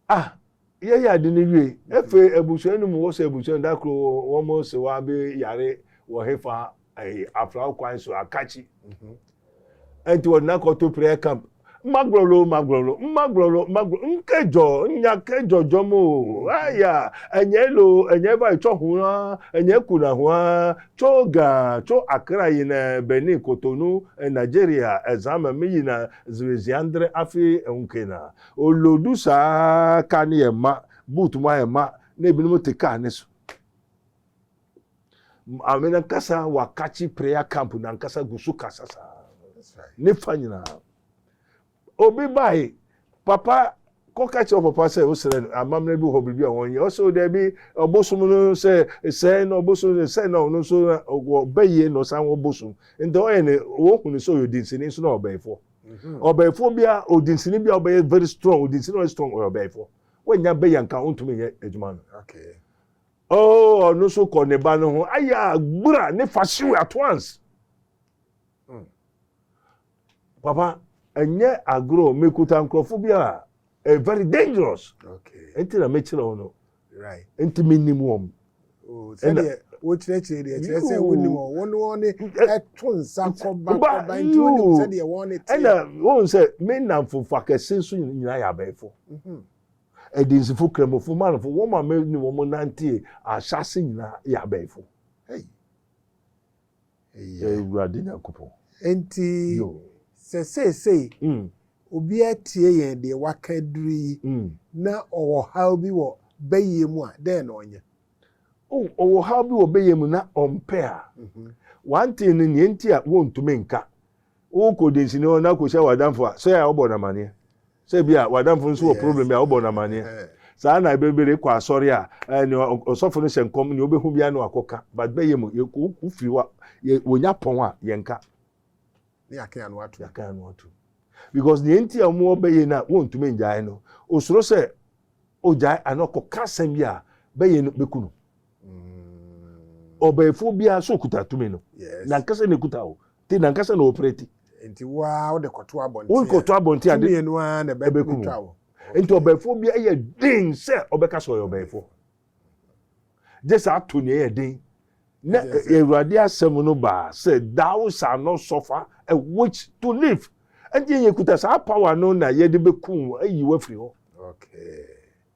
Ah yɛyɛ ade no wie. Afei abusua no mu wɔ sɛ abusua da koro wɔn sewa bi yare wɔ hefa ɛyi aflaw kwan so akakyi. Ɛnti wɔde n'akɔto prayer camp. Magrolo magrolo magrolo magrolo nkejɔ nya kejɔ jɔ mo aya ɛnyɛ elo ɛnyɛ ɛba etsɔ ho a ɛnyɛ kuna ho a tso ga tso akra yi na Benin Cotonou Nigeria ɛzan mɛ mi yi na ziri ziandre afi ɛhun kena Ɔredu saa ara, kaa no yɛ ma, boot mu ayɛ ma na ebinom te kaa no so. Maame no ankasa wakakye prayer camp no ankasa gu so kasa saa. Ne fa nyinaa. Obi bae, papa kɔka kyerɛ papa sɛ wosrɛ no amammerɛ bi hɔ biribi a wɔnyɛ ɔsɛ o daabi ɔbosom no sɛ sɛe na ɔbosom no sɛe na ɔno nso ɔbɛyie na ɔsan wɔ bosom nti ɔyɛ ne wɔhu no sɛ ɔyɛ odinsini nso na ɔbɛyifoɔ ɔbɛɛfoɔ biara odinsini biara ɔbɛyɛ very strong odinsini ɔyɛ strong ɔyɛ ɔbɛɛfoɔ wɔnya bɛyɛ nka ɔntumi nyɛ adwuma no oh ɔno so kɔ ne ba no ho ayɛ agbura ne fa hyew at once hmm. papa ɛnyɛ agorɔ mekuta nkurɔfoɔ bi a very dangerous ɛnti na mekyerɛ wo no nti menim wɔn. Oh, sɛdeɛ wokyerɛkyerɛ deɛ kyerɛ sɛ wonim wɔn wɔn wɔn ɛto nsa kɔba kɔba nti wonim sɛdeɛ wɔn ne teɛ. ɛna wɔn sɛ me nnamfofo akɛse nso nyinaa yɛ abɛɛfo ɛdinsifo mhm. kramofo manfo wɔn ma me ne wɔn nante ahyase nyinaa yɛ abɛɛfo. Hey. yɛ. Awurade Nyankopɔn. Enti sɛ seesei obiara tie yɛn deɛ wɔaka aduru yi, na ɔwɔ ɔhaw bi wɔ bayie mu a, dɛn na ɔnyɛ? O, ɔwɔ ɔhaw bi wɔ bayie mu na ɔmpɛ a, one thing no, nea enti a wɔntumi nka Wokɔ dansinia hɔ na kɔhyia w'adamfo a, sɛ ɛyɛ a wobɔ no amanneɛ? Sɛ bi a w'adamfo nso wɔ problem bi a, wobɔ no amanneɛ? Saa na ɛbɛ bere kɔ asɔre a, eh, nea ɔsɔfo no hyɛ nkɔm, nea obehu biara na wakɔka. But bɛyɛ mu, yɛ wo- wofiri hɔ a, yɛ- wonya pɔn a, yɛnka. Ne yɛakan ano atom. Yɛakan ano atom. Because nea enti a wɔwɔ bɛyɛ no a wɔntumi ngyae no, osuro sɛ ogyae anaa ɔkɔka asɛm bi a, bɛyɛ no beku no. Mm. Ɔbaefoɔ biara sɛ okuta tumi no, Yes. nankasa na ekuta o. Ti nankasa na wɔpira ti. Nti wo ara wode kɔto abɔnten a. Wokɔto abɔnten a. Tumi yɛ no ara na ɛbɛkum twa wo. Nti ɔbɛɛfoɔ bi ɛyɛ den sɛ ɔbɛka sɛ ɔyɛ ɔbɛɛfoɔ. Gye sɛ ato nea ɛyɛ den. Na Awurade asɛm no baa sɛ thou shall not suffer a witch to live. Nti yɛkuta saa power no na yɛde bɛkum wo ayi wo afiri hɔ. Okay.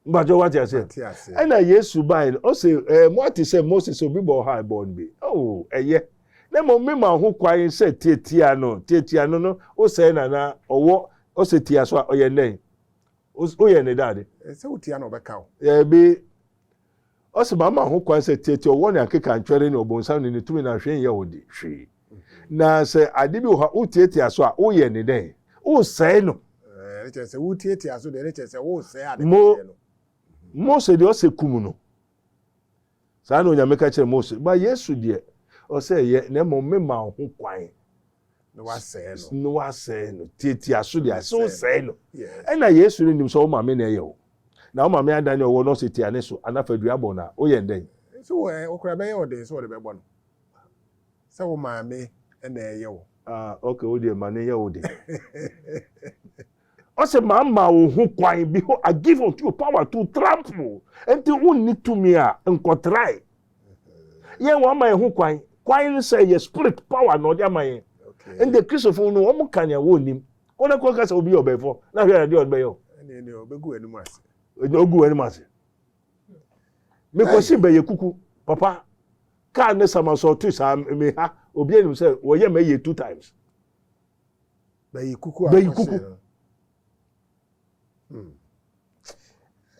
Mpatsɔ wate aseɛ. Mate aseɛ. Ɛna Yesu bae no, ɔse ɛɛ mo ate sɛ Mose sɛ obi bɔ ɔha ɛbɔ no bi. Oh, ɛyɛ. Na mmom me ma ho kwan sɛ tiatia no, tiatia no no, wo sɛɛ na na ɔwɔ, ɔse tia so a, ɔyɛ ndɛn? Wo yɛ ne dade. Sɛ wo tia no ɔbɛka wo. Daabi. Ɔse, Mama ho kwan sɛ teɛteɛ ɔwɔ ne akekantwɛre ne ɔbonsam ne ne tumi na hwee nyɛ wo de hwee. Na sɛ ade bi wɔ hɔ a wotiatia so a, woyɛ ne dɛn? Wosɛe no. Ɛɛ, ne kyerɛ sɛ wotiatia so deɛ, ne kyerɛ sɛ wosɛe ade Mo, kɛseɛ no. Mose deɛ, ɔse kum no. Saa na Onyame ka kyerɛɛ Mose. But Yesu deɛ, ɔse ɛyɛ, na mmom mema wo ho kwan. na wasɛe no na wasɛe no tiatia so deɛ sɛ wosɛe no ɛna yesu no nim sɛ wo maame na ɛyɛ wo na wo maame ada ne ɔwɔ no ɔsɛ tia ne so anafa dua bɔ no a woyɛ ndɛn nso wɔ ɛ wokora bɛyɛ wo den sɛ wɔde bɛbɔ no sɛ wo maame na ɛyɛ wo ah ok wo deɛ ma ne yɛ wo den Ɔse mama wo ho kwan, behold I give unto you power to trample, nti wonni tumi a nkɔtrae. Yɛn wama yɛn ho kwan, kwan no sɛ yɛ spirit power na ɔde ama yɛn. Nti Kristofo no wɔn ka nea wɔnnim. Kɔ na kɔ kasa obi yɛ ɔbɛnfo na hwɛ adeɛ ɔde bɛyɛ o. Ɛne ɛne ɔbɛgu anim ase. Ɛne ɔgu anim ase. Mekɔsi bɛyɛ kuku papa kaa ne samasɔɔto saa meha obi anim sɛ wɔyɛ ma yɛ two times. Bɛyi kuku Bɛyi akɔhye kuku. no. Hmm.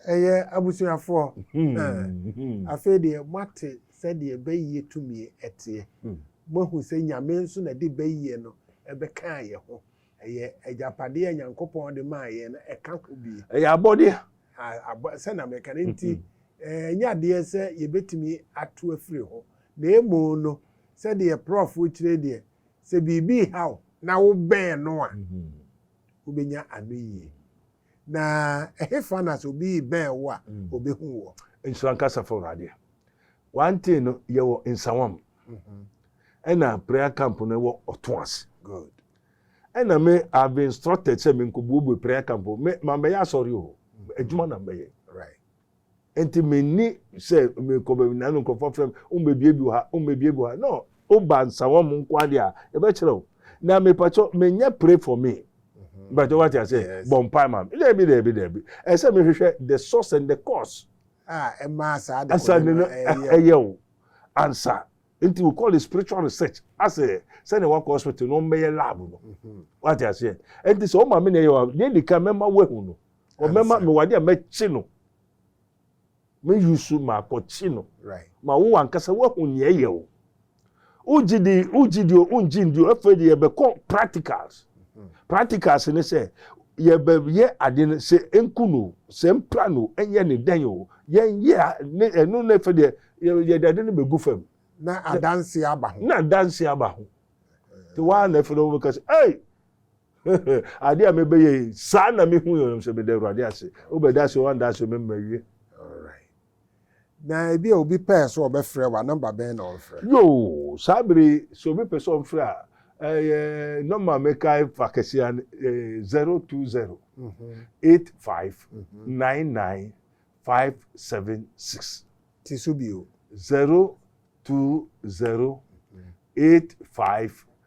Ɛyɛ abusuafoɔ. Hmm. Hmm. Afei deɛ moate sɛdeɛ bɛyie tumi ɛteɛ. Hmm. Moahu sɛ Nyame nso na de bɛyie no ɛbɛkaa yɛ ho. Ɛyɛ agyapadeɛ a Nyankopɔn de maa yɛn no ɛka ho bi. Ɛyɛ abɔdeɛ. A- abɔ- Sɛ na meka no nti, eh, ɛnyɛ adeɛ sɛ yɛbɛtumi ato afiri ho. Na emu no, sɛdeɛ prɔfo kyerɛ deɛ, sɛ biribi reha wo na wobɛn no a, wobɛnya anoyie. Na ɛhefa na sɛ obi rebɛn wo a, ɔbɛhu wɔ? Nhyira nka Asafo Awurade. Wante no, yɛwɔ Nsawam. Ɛna prayer camp no wɔ Ɔtõ ase. Good. Ɛna me I have been instructed sɛ menkɔbuebue prayer camp o. Me mambɛyɛ asɔre o. Adwuma na mbɛyɛ. Right. Enti menni sɛ mekɔ baabi na nkurɔfoɔ frɛ me, wommɛbie bi wɔ ha, wommɛbie bi wɔ ha. No, woba Nsawam nko ara deɛ a, yɛbɛkyerɛ wo. Na mepakyɛ, menyɛ pray for me. Mepakyɛ, wate aseɛ? Yes. Bɔ mpae ma me. Daabi, daabi, daabi. Ɛsɛ sɛ mehwehwɛ the source and the cause. A ɛma saa adekorɔ no ɛyɛ. Ansa no no ɛyɛ wo. Ansa. Nti we call it spiritual research asɛ sɛdeɛ wakɔ hospital no ɔmmɛyɛ lab no wate aseɛ nti sɛ ɔma me na ɛyɛ wa deɛ di kan mɛma wahu no wɔbɛma mewɔ adeɛ a mɛkye no meyi so maakɔkye no ma wo ankasa woahu nea ɛyɛ o wogye di wogye di o wongye ndi o afei de yɛbɛkɔ practicals mhm. practicals ne sɛ yɛbɛyɛ ade no sɛ nku no sɛ mpira no ɛnyɛ ne dɛn o yɛnyɛ ne ɛno na ɛfɛ deɛ yɛde ade no bɛgu fam na adanse aba ho na adanse aba ho te waa na ɛfɛ no wɔbɛka sɛ ɛy Ade a mebɛyɛ yi, saa na mehu yɛ sɛ meda Awurade ase. Wobɛda ase wɔ anda ase mema wie. Alright. Na ebi a obi pɛɛ sɛ ɔbɛfrɛ wa nɔmba bɛn na ɔmfrɛ? Yoo, saa bere yi sɛ obi pɛ sɛ ɔmfrɛ a, ɛyɛ nɔmba a mekae fa kɛse a zero two zero eight five nine nine five seven six. Ti so bio. Zero two zero eight five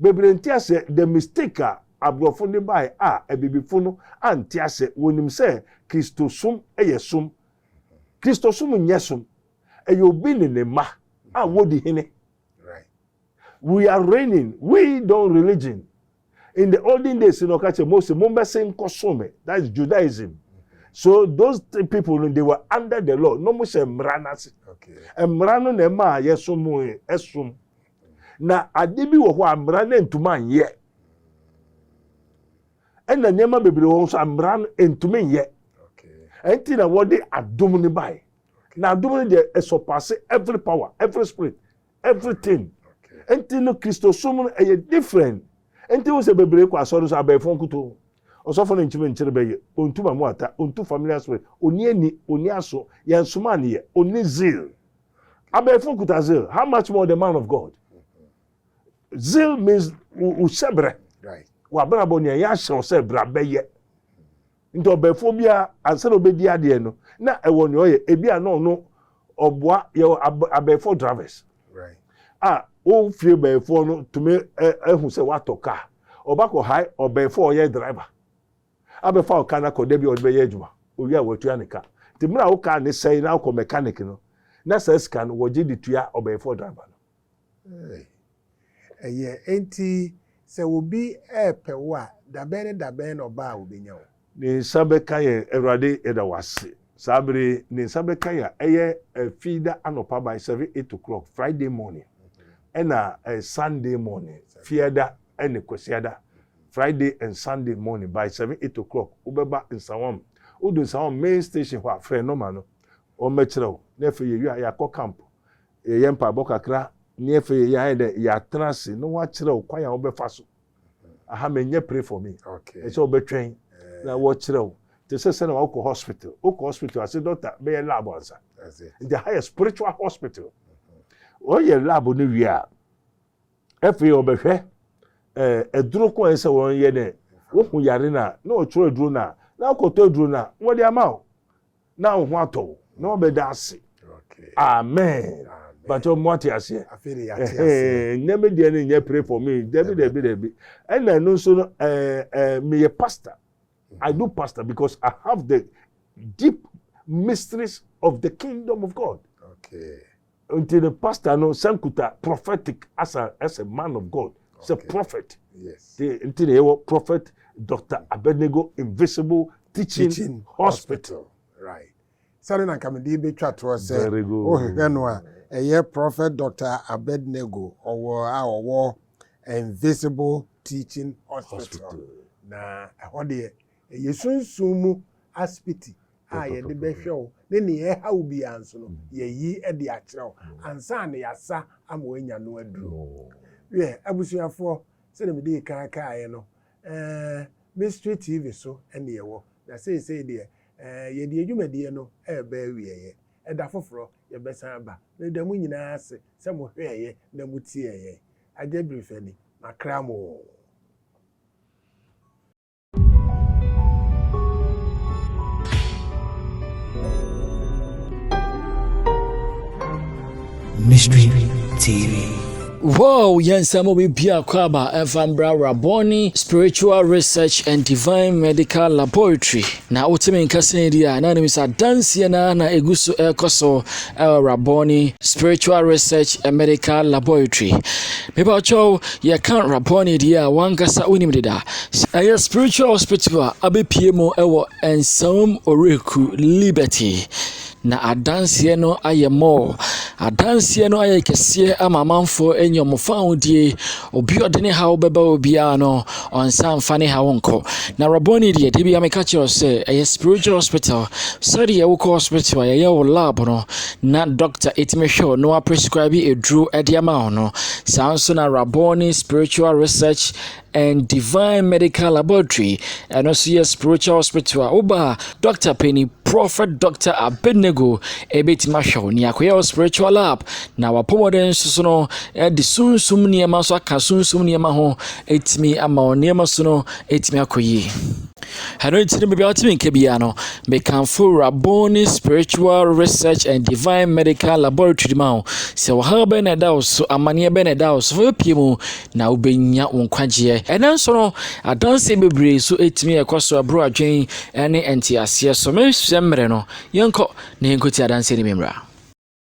Bebree nte ase the mistake a abrɔfo de bae a abibifo no ante ase, wɔnim sɛ Kristosom yɛ som. Kristosom nyɛ som, ɛyɛ obi ne ne mma a wɔdi hene. We are reigning, we don't religion. In the olden days no ɔka kyerɛ Mose mombɛsen nkɔsom me, that is Judaism. So those th- people no they were under the law, na wɔhyɛ mmara no ase. Mmara no na ɛmaa yɛsom ɛsom. Na ade bi wɔ hɔ a mmara no antumi anyɛ. Ɛna nneɛma bebree wɔ hɔ nso a mmara no antumi nyɛ. Ɛnti na wɔde adom no bae. Na adom no deɛ ɛsɔpase every power, every spirit, everything. Ɛnti no Kristosom no ɛyɛ different. Ɛnti wo sɛ bebree kɔ asɔre nso abɛɛfo nkutoo. Ɔsɔfo no nkyimi nkyere bɛyɛ, ɔntu mamu ata, ɔntu familiar spirit, ɔni ani, ɔni aso, yɛnsomaa no yɛ, ɔni zeal. Abɛɛfo kuta zeal. How much more the man of God? Zeal means wohyɛ berɛ. W'abrabɔ nea yɛahyɛ wo sɛ bra bɛyɛ. Nti ɔbɛɛfoɔ biara ansa na ɔbɛdi adeɛ no na ɛwɔ nea ɔyɛ ebi a na ɔno ɔboa yɛwɔ abɛɛfoɔ drivers a wo fie bɛɛfoɔ no tumi ahu sɛ woatɔ kaa ɔba kɔ hae ɔbɛɛfoɔ ɔyɛ driver. abɛfa wo car no akɔ da bi a ɔde bɛyɛ adwuma, owie a watua ne ka. Nti mmerɛ a wo car no sɛe na wokɔ mechanic no, na saa sika no wɔgye de tua ɔbɛnfoɔ driver no. Eei. Ɛyɛ. Enti sɛ obi repɛ wo a, dabɛn ne dabɛn na ɔba a ɔbɛnya wo? Ne nsa bɛka yɛn. Awurade, yɛda wo ase. Saa berɛ yi, ne nsa bɛka yɛn a, ɛyɛ Fiida anɔpa by seven, eight o'clock, Friday morning, ɛna Sunday morning, Fiada ne Kwasiada. Friday and Sunday morning by seven, eight o'clock wobɛba Nsawam. Wodu Nsawam main station hɔ a, frɛ nɔma no, wɔbɛkyerɛ wo. Na afei yɛwie a, yɛakɔ camp, yɛyɛ mpaebɔ kakra, ne afei yɛyɛ ayɛ dɛ yɛatena ase na wɔakyerɛ wo kwan a wobɛfa so. Aha menyɛ pray for me. Okay. Ɛsɛ wobɛtwɛn na wɔkyerɛ wo. Te sɛ sɛnea wokɔ hospital. Wokɔ hospital a, sɛ doctor bɛyɛ lab ansa. That's it. Nti aha yɛ spiritual hospital. Wɔyɛ lab no wie a, Afei ɔbɛhwɛ ɛɛ aduro ko a ɛsɛ wɔn yɛ dɛ wohu yare na na ɔtwerɛ aduro na na akɔtɔ aduro na wɔde ama o na wo ho atɔ wo na wɔbɛda ase amen bàtɛ ɔmo ate aseɛ ɛhɛn nyɛ mi deɛ ne nyɛ pray for me dɛbi dɛbi dɛbi ɛna ɛno nso no ɛɛ ɛɛ mi yɛ pastor I do pastor because I have the deep mysteries of the kingdom of God. Okay. Nti no pastor no san kuta prophetic asa as a man of God sɛ okay. prophet yes. nti na yɛwɔ prophet Dr. Abednego invisible teaching, teaching hospital. hospital right sani na nkamidi bi twa toɔ sɛ wohwehwɛ no a ɛyɛ prophet Dr. Abednego ɔwɔ a ɔwɔ invisible teaching hospital, hospital. na ɛhɔ deɛ Ɛyɛ sunsum mu asopiti a yɛde bɛhwɛ wo ne nea ɛreha wo biara nso no, yɛayi de akyerɛ wo ansa na yɛasa ama woanya no aduro. Wiɛ, abusuafoɔ, sɛdeɛ medii kan kaeɛ no, Mystery TV so na yɛwɔ, na seesei deɛ yɛde yɛn dwumadie no reba awieeɛ. Ɛda foforɔ, yɛbɛsan aba. Mereda mo nyinaa ase sɛ mohwɛeɛ na motiee yɛn. Agya Birifani, makra mo oo. Mystery TV. Wow, yɛnsɛm obi biako aba ɛfa mbra rabɔne spiritual research and divine medical laboratory na wotumi nkasa di a na nim sɛ adanseɛ na na ɛgu so ɛrekɔ so ɛwɔ rabɔne spiritual research and medical laboratory Mepakyɛw yɛka Rabboni deɛ a wankasa wonim deda. Ɛyɛ spiritual hospital a abɛpue mu wɔ Nsaum Oreku Liberty na adanseɛ no ayɛ mɔɔ. Adanseɛ no ayɛ kɛseɛ ama amanfoɔ anya wɔn fahodie. Obi ɔde ne haw bɛba obiara no, ɔnsa mfa ne haw nkɔ. Na Rabboni deɛ, da bi a meka kyerɛ sɛ ɛyɛ spiritual hospital. Sɛdeɛ wokɔ hospital a yɛyɛ wo lab no, na dɔkta tumi hwɛ wo na waprescribe aduro de ama wo no saa nso na raboni spiritual research and divine medical laboratory ɛno nso yɛ spiritual hospital a woba a dɔkta panyin prophet dɔkta abednego ɛbɛtumi ahwɛ wo nea akɔyɛ wo spiritual lab na wapɔmɔden nso so no ɛde sunsum nneɛma nso aka sunsum nneɛma ho ɛtumi ama wo nneɛma so no ɛtumi akɔ yie Ɛno nti no, baabi a wɔte me nka biara no, mekamfo Rabboni Spiritual Research and Divine Medical Laboratory ma wo. Sɛ ɔhaw bɛn na ɛda wo so, amanneɛ bɛn na ɛda wo so, fa bɛpie mu na wobɛnya wo nkwagyeɛ. Ɛnɛ nso no, adanseɛ bebree so ɛtumi ɛkɔ so ɛboro adwen ne nteaseɛ so. Menhwɛ mmerɛ no, yɛnkɔ na yɛnkɔtie adanseɛ no bi mmra.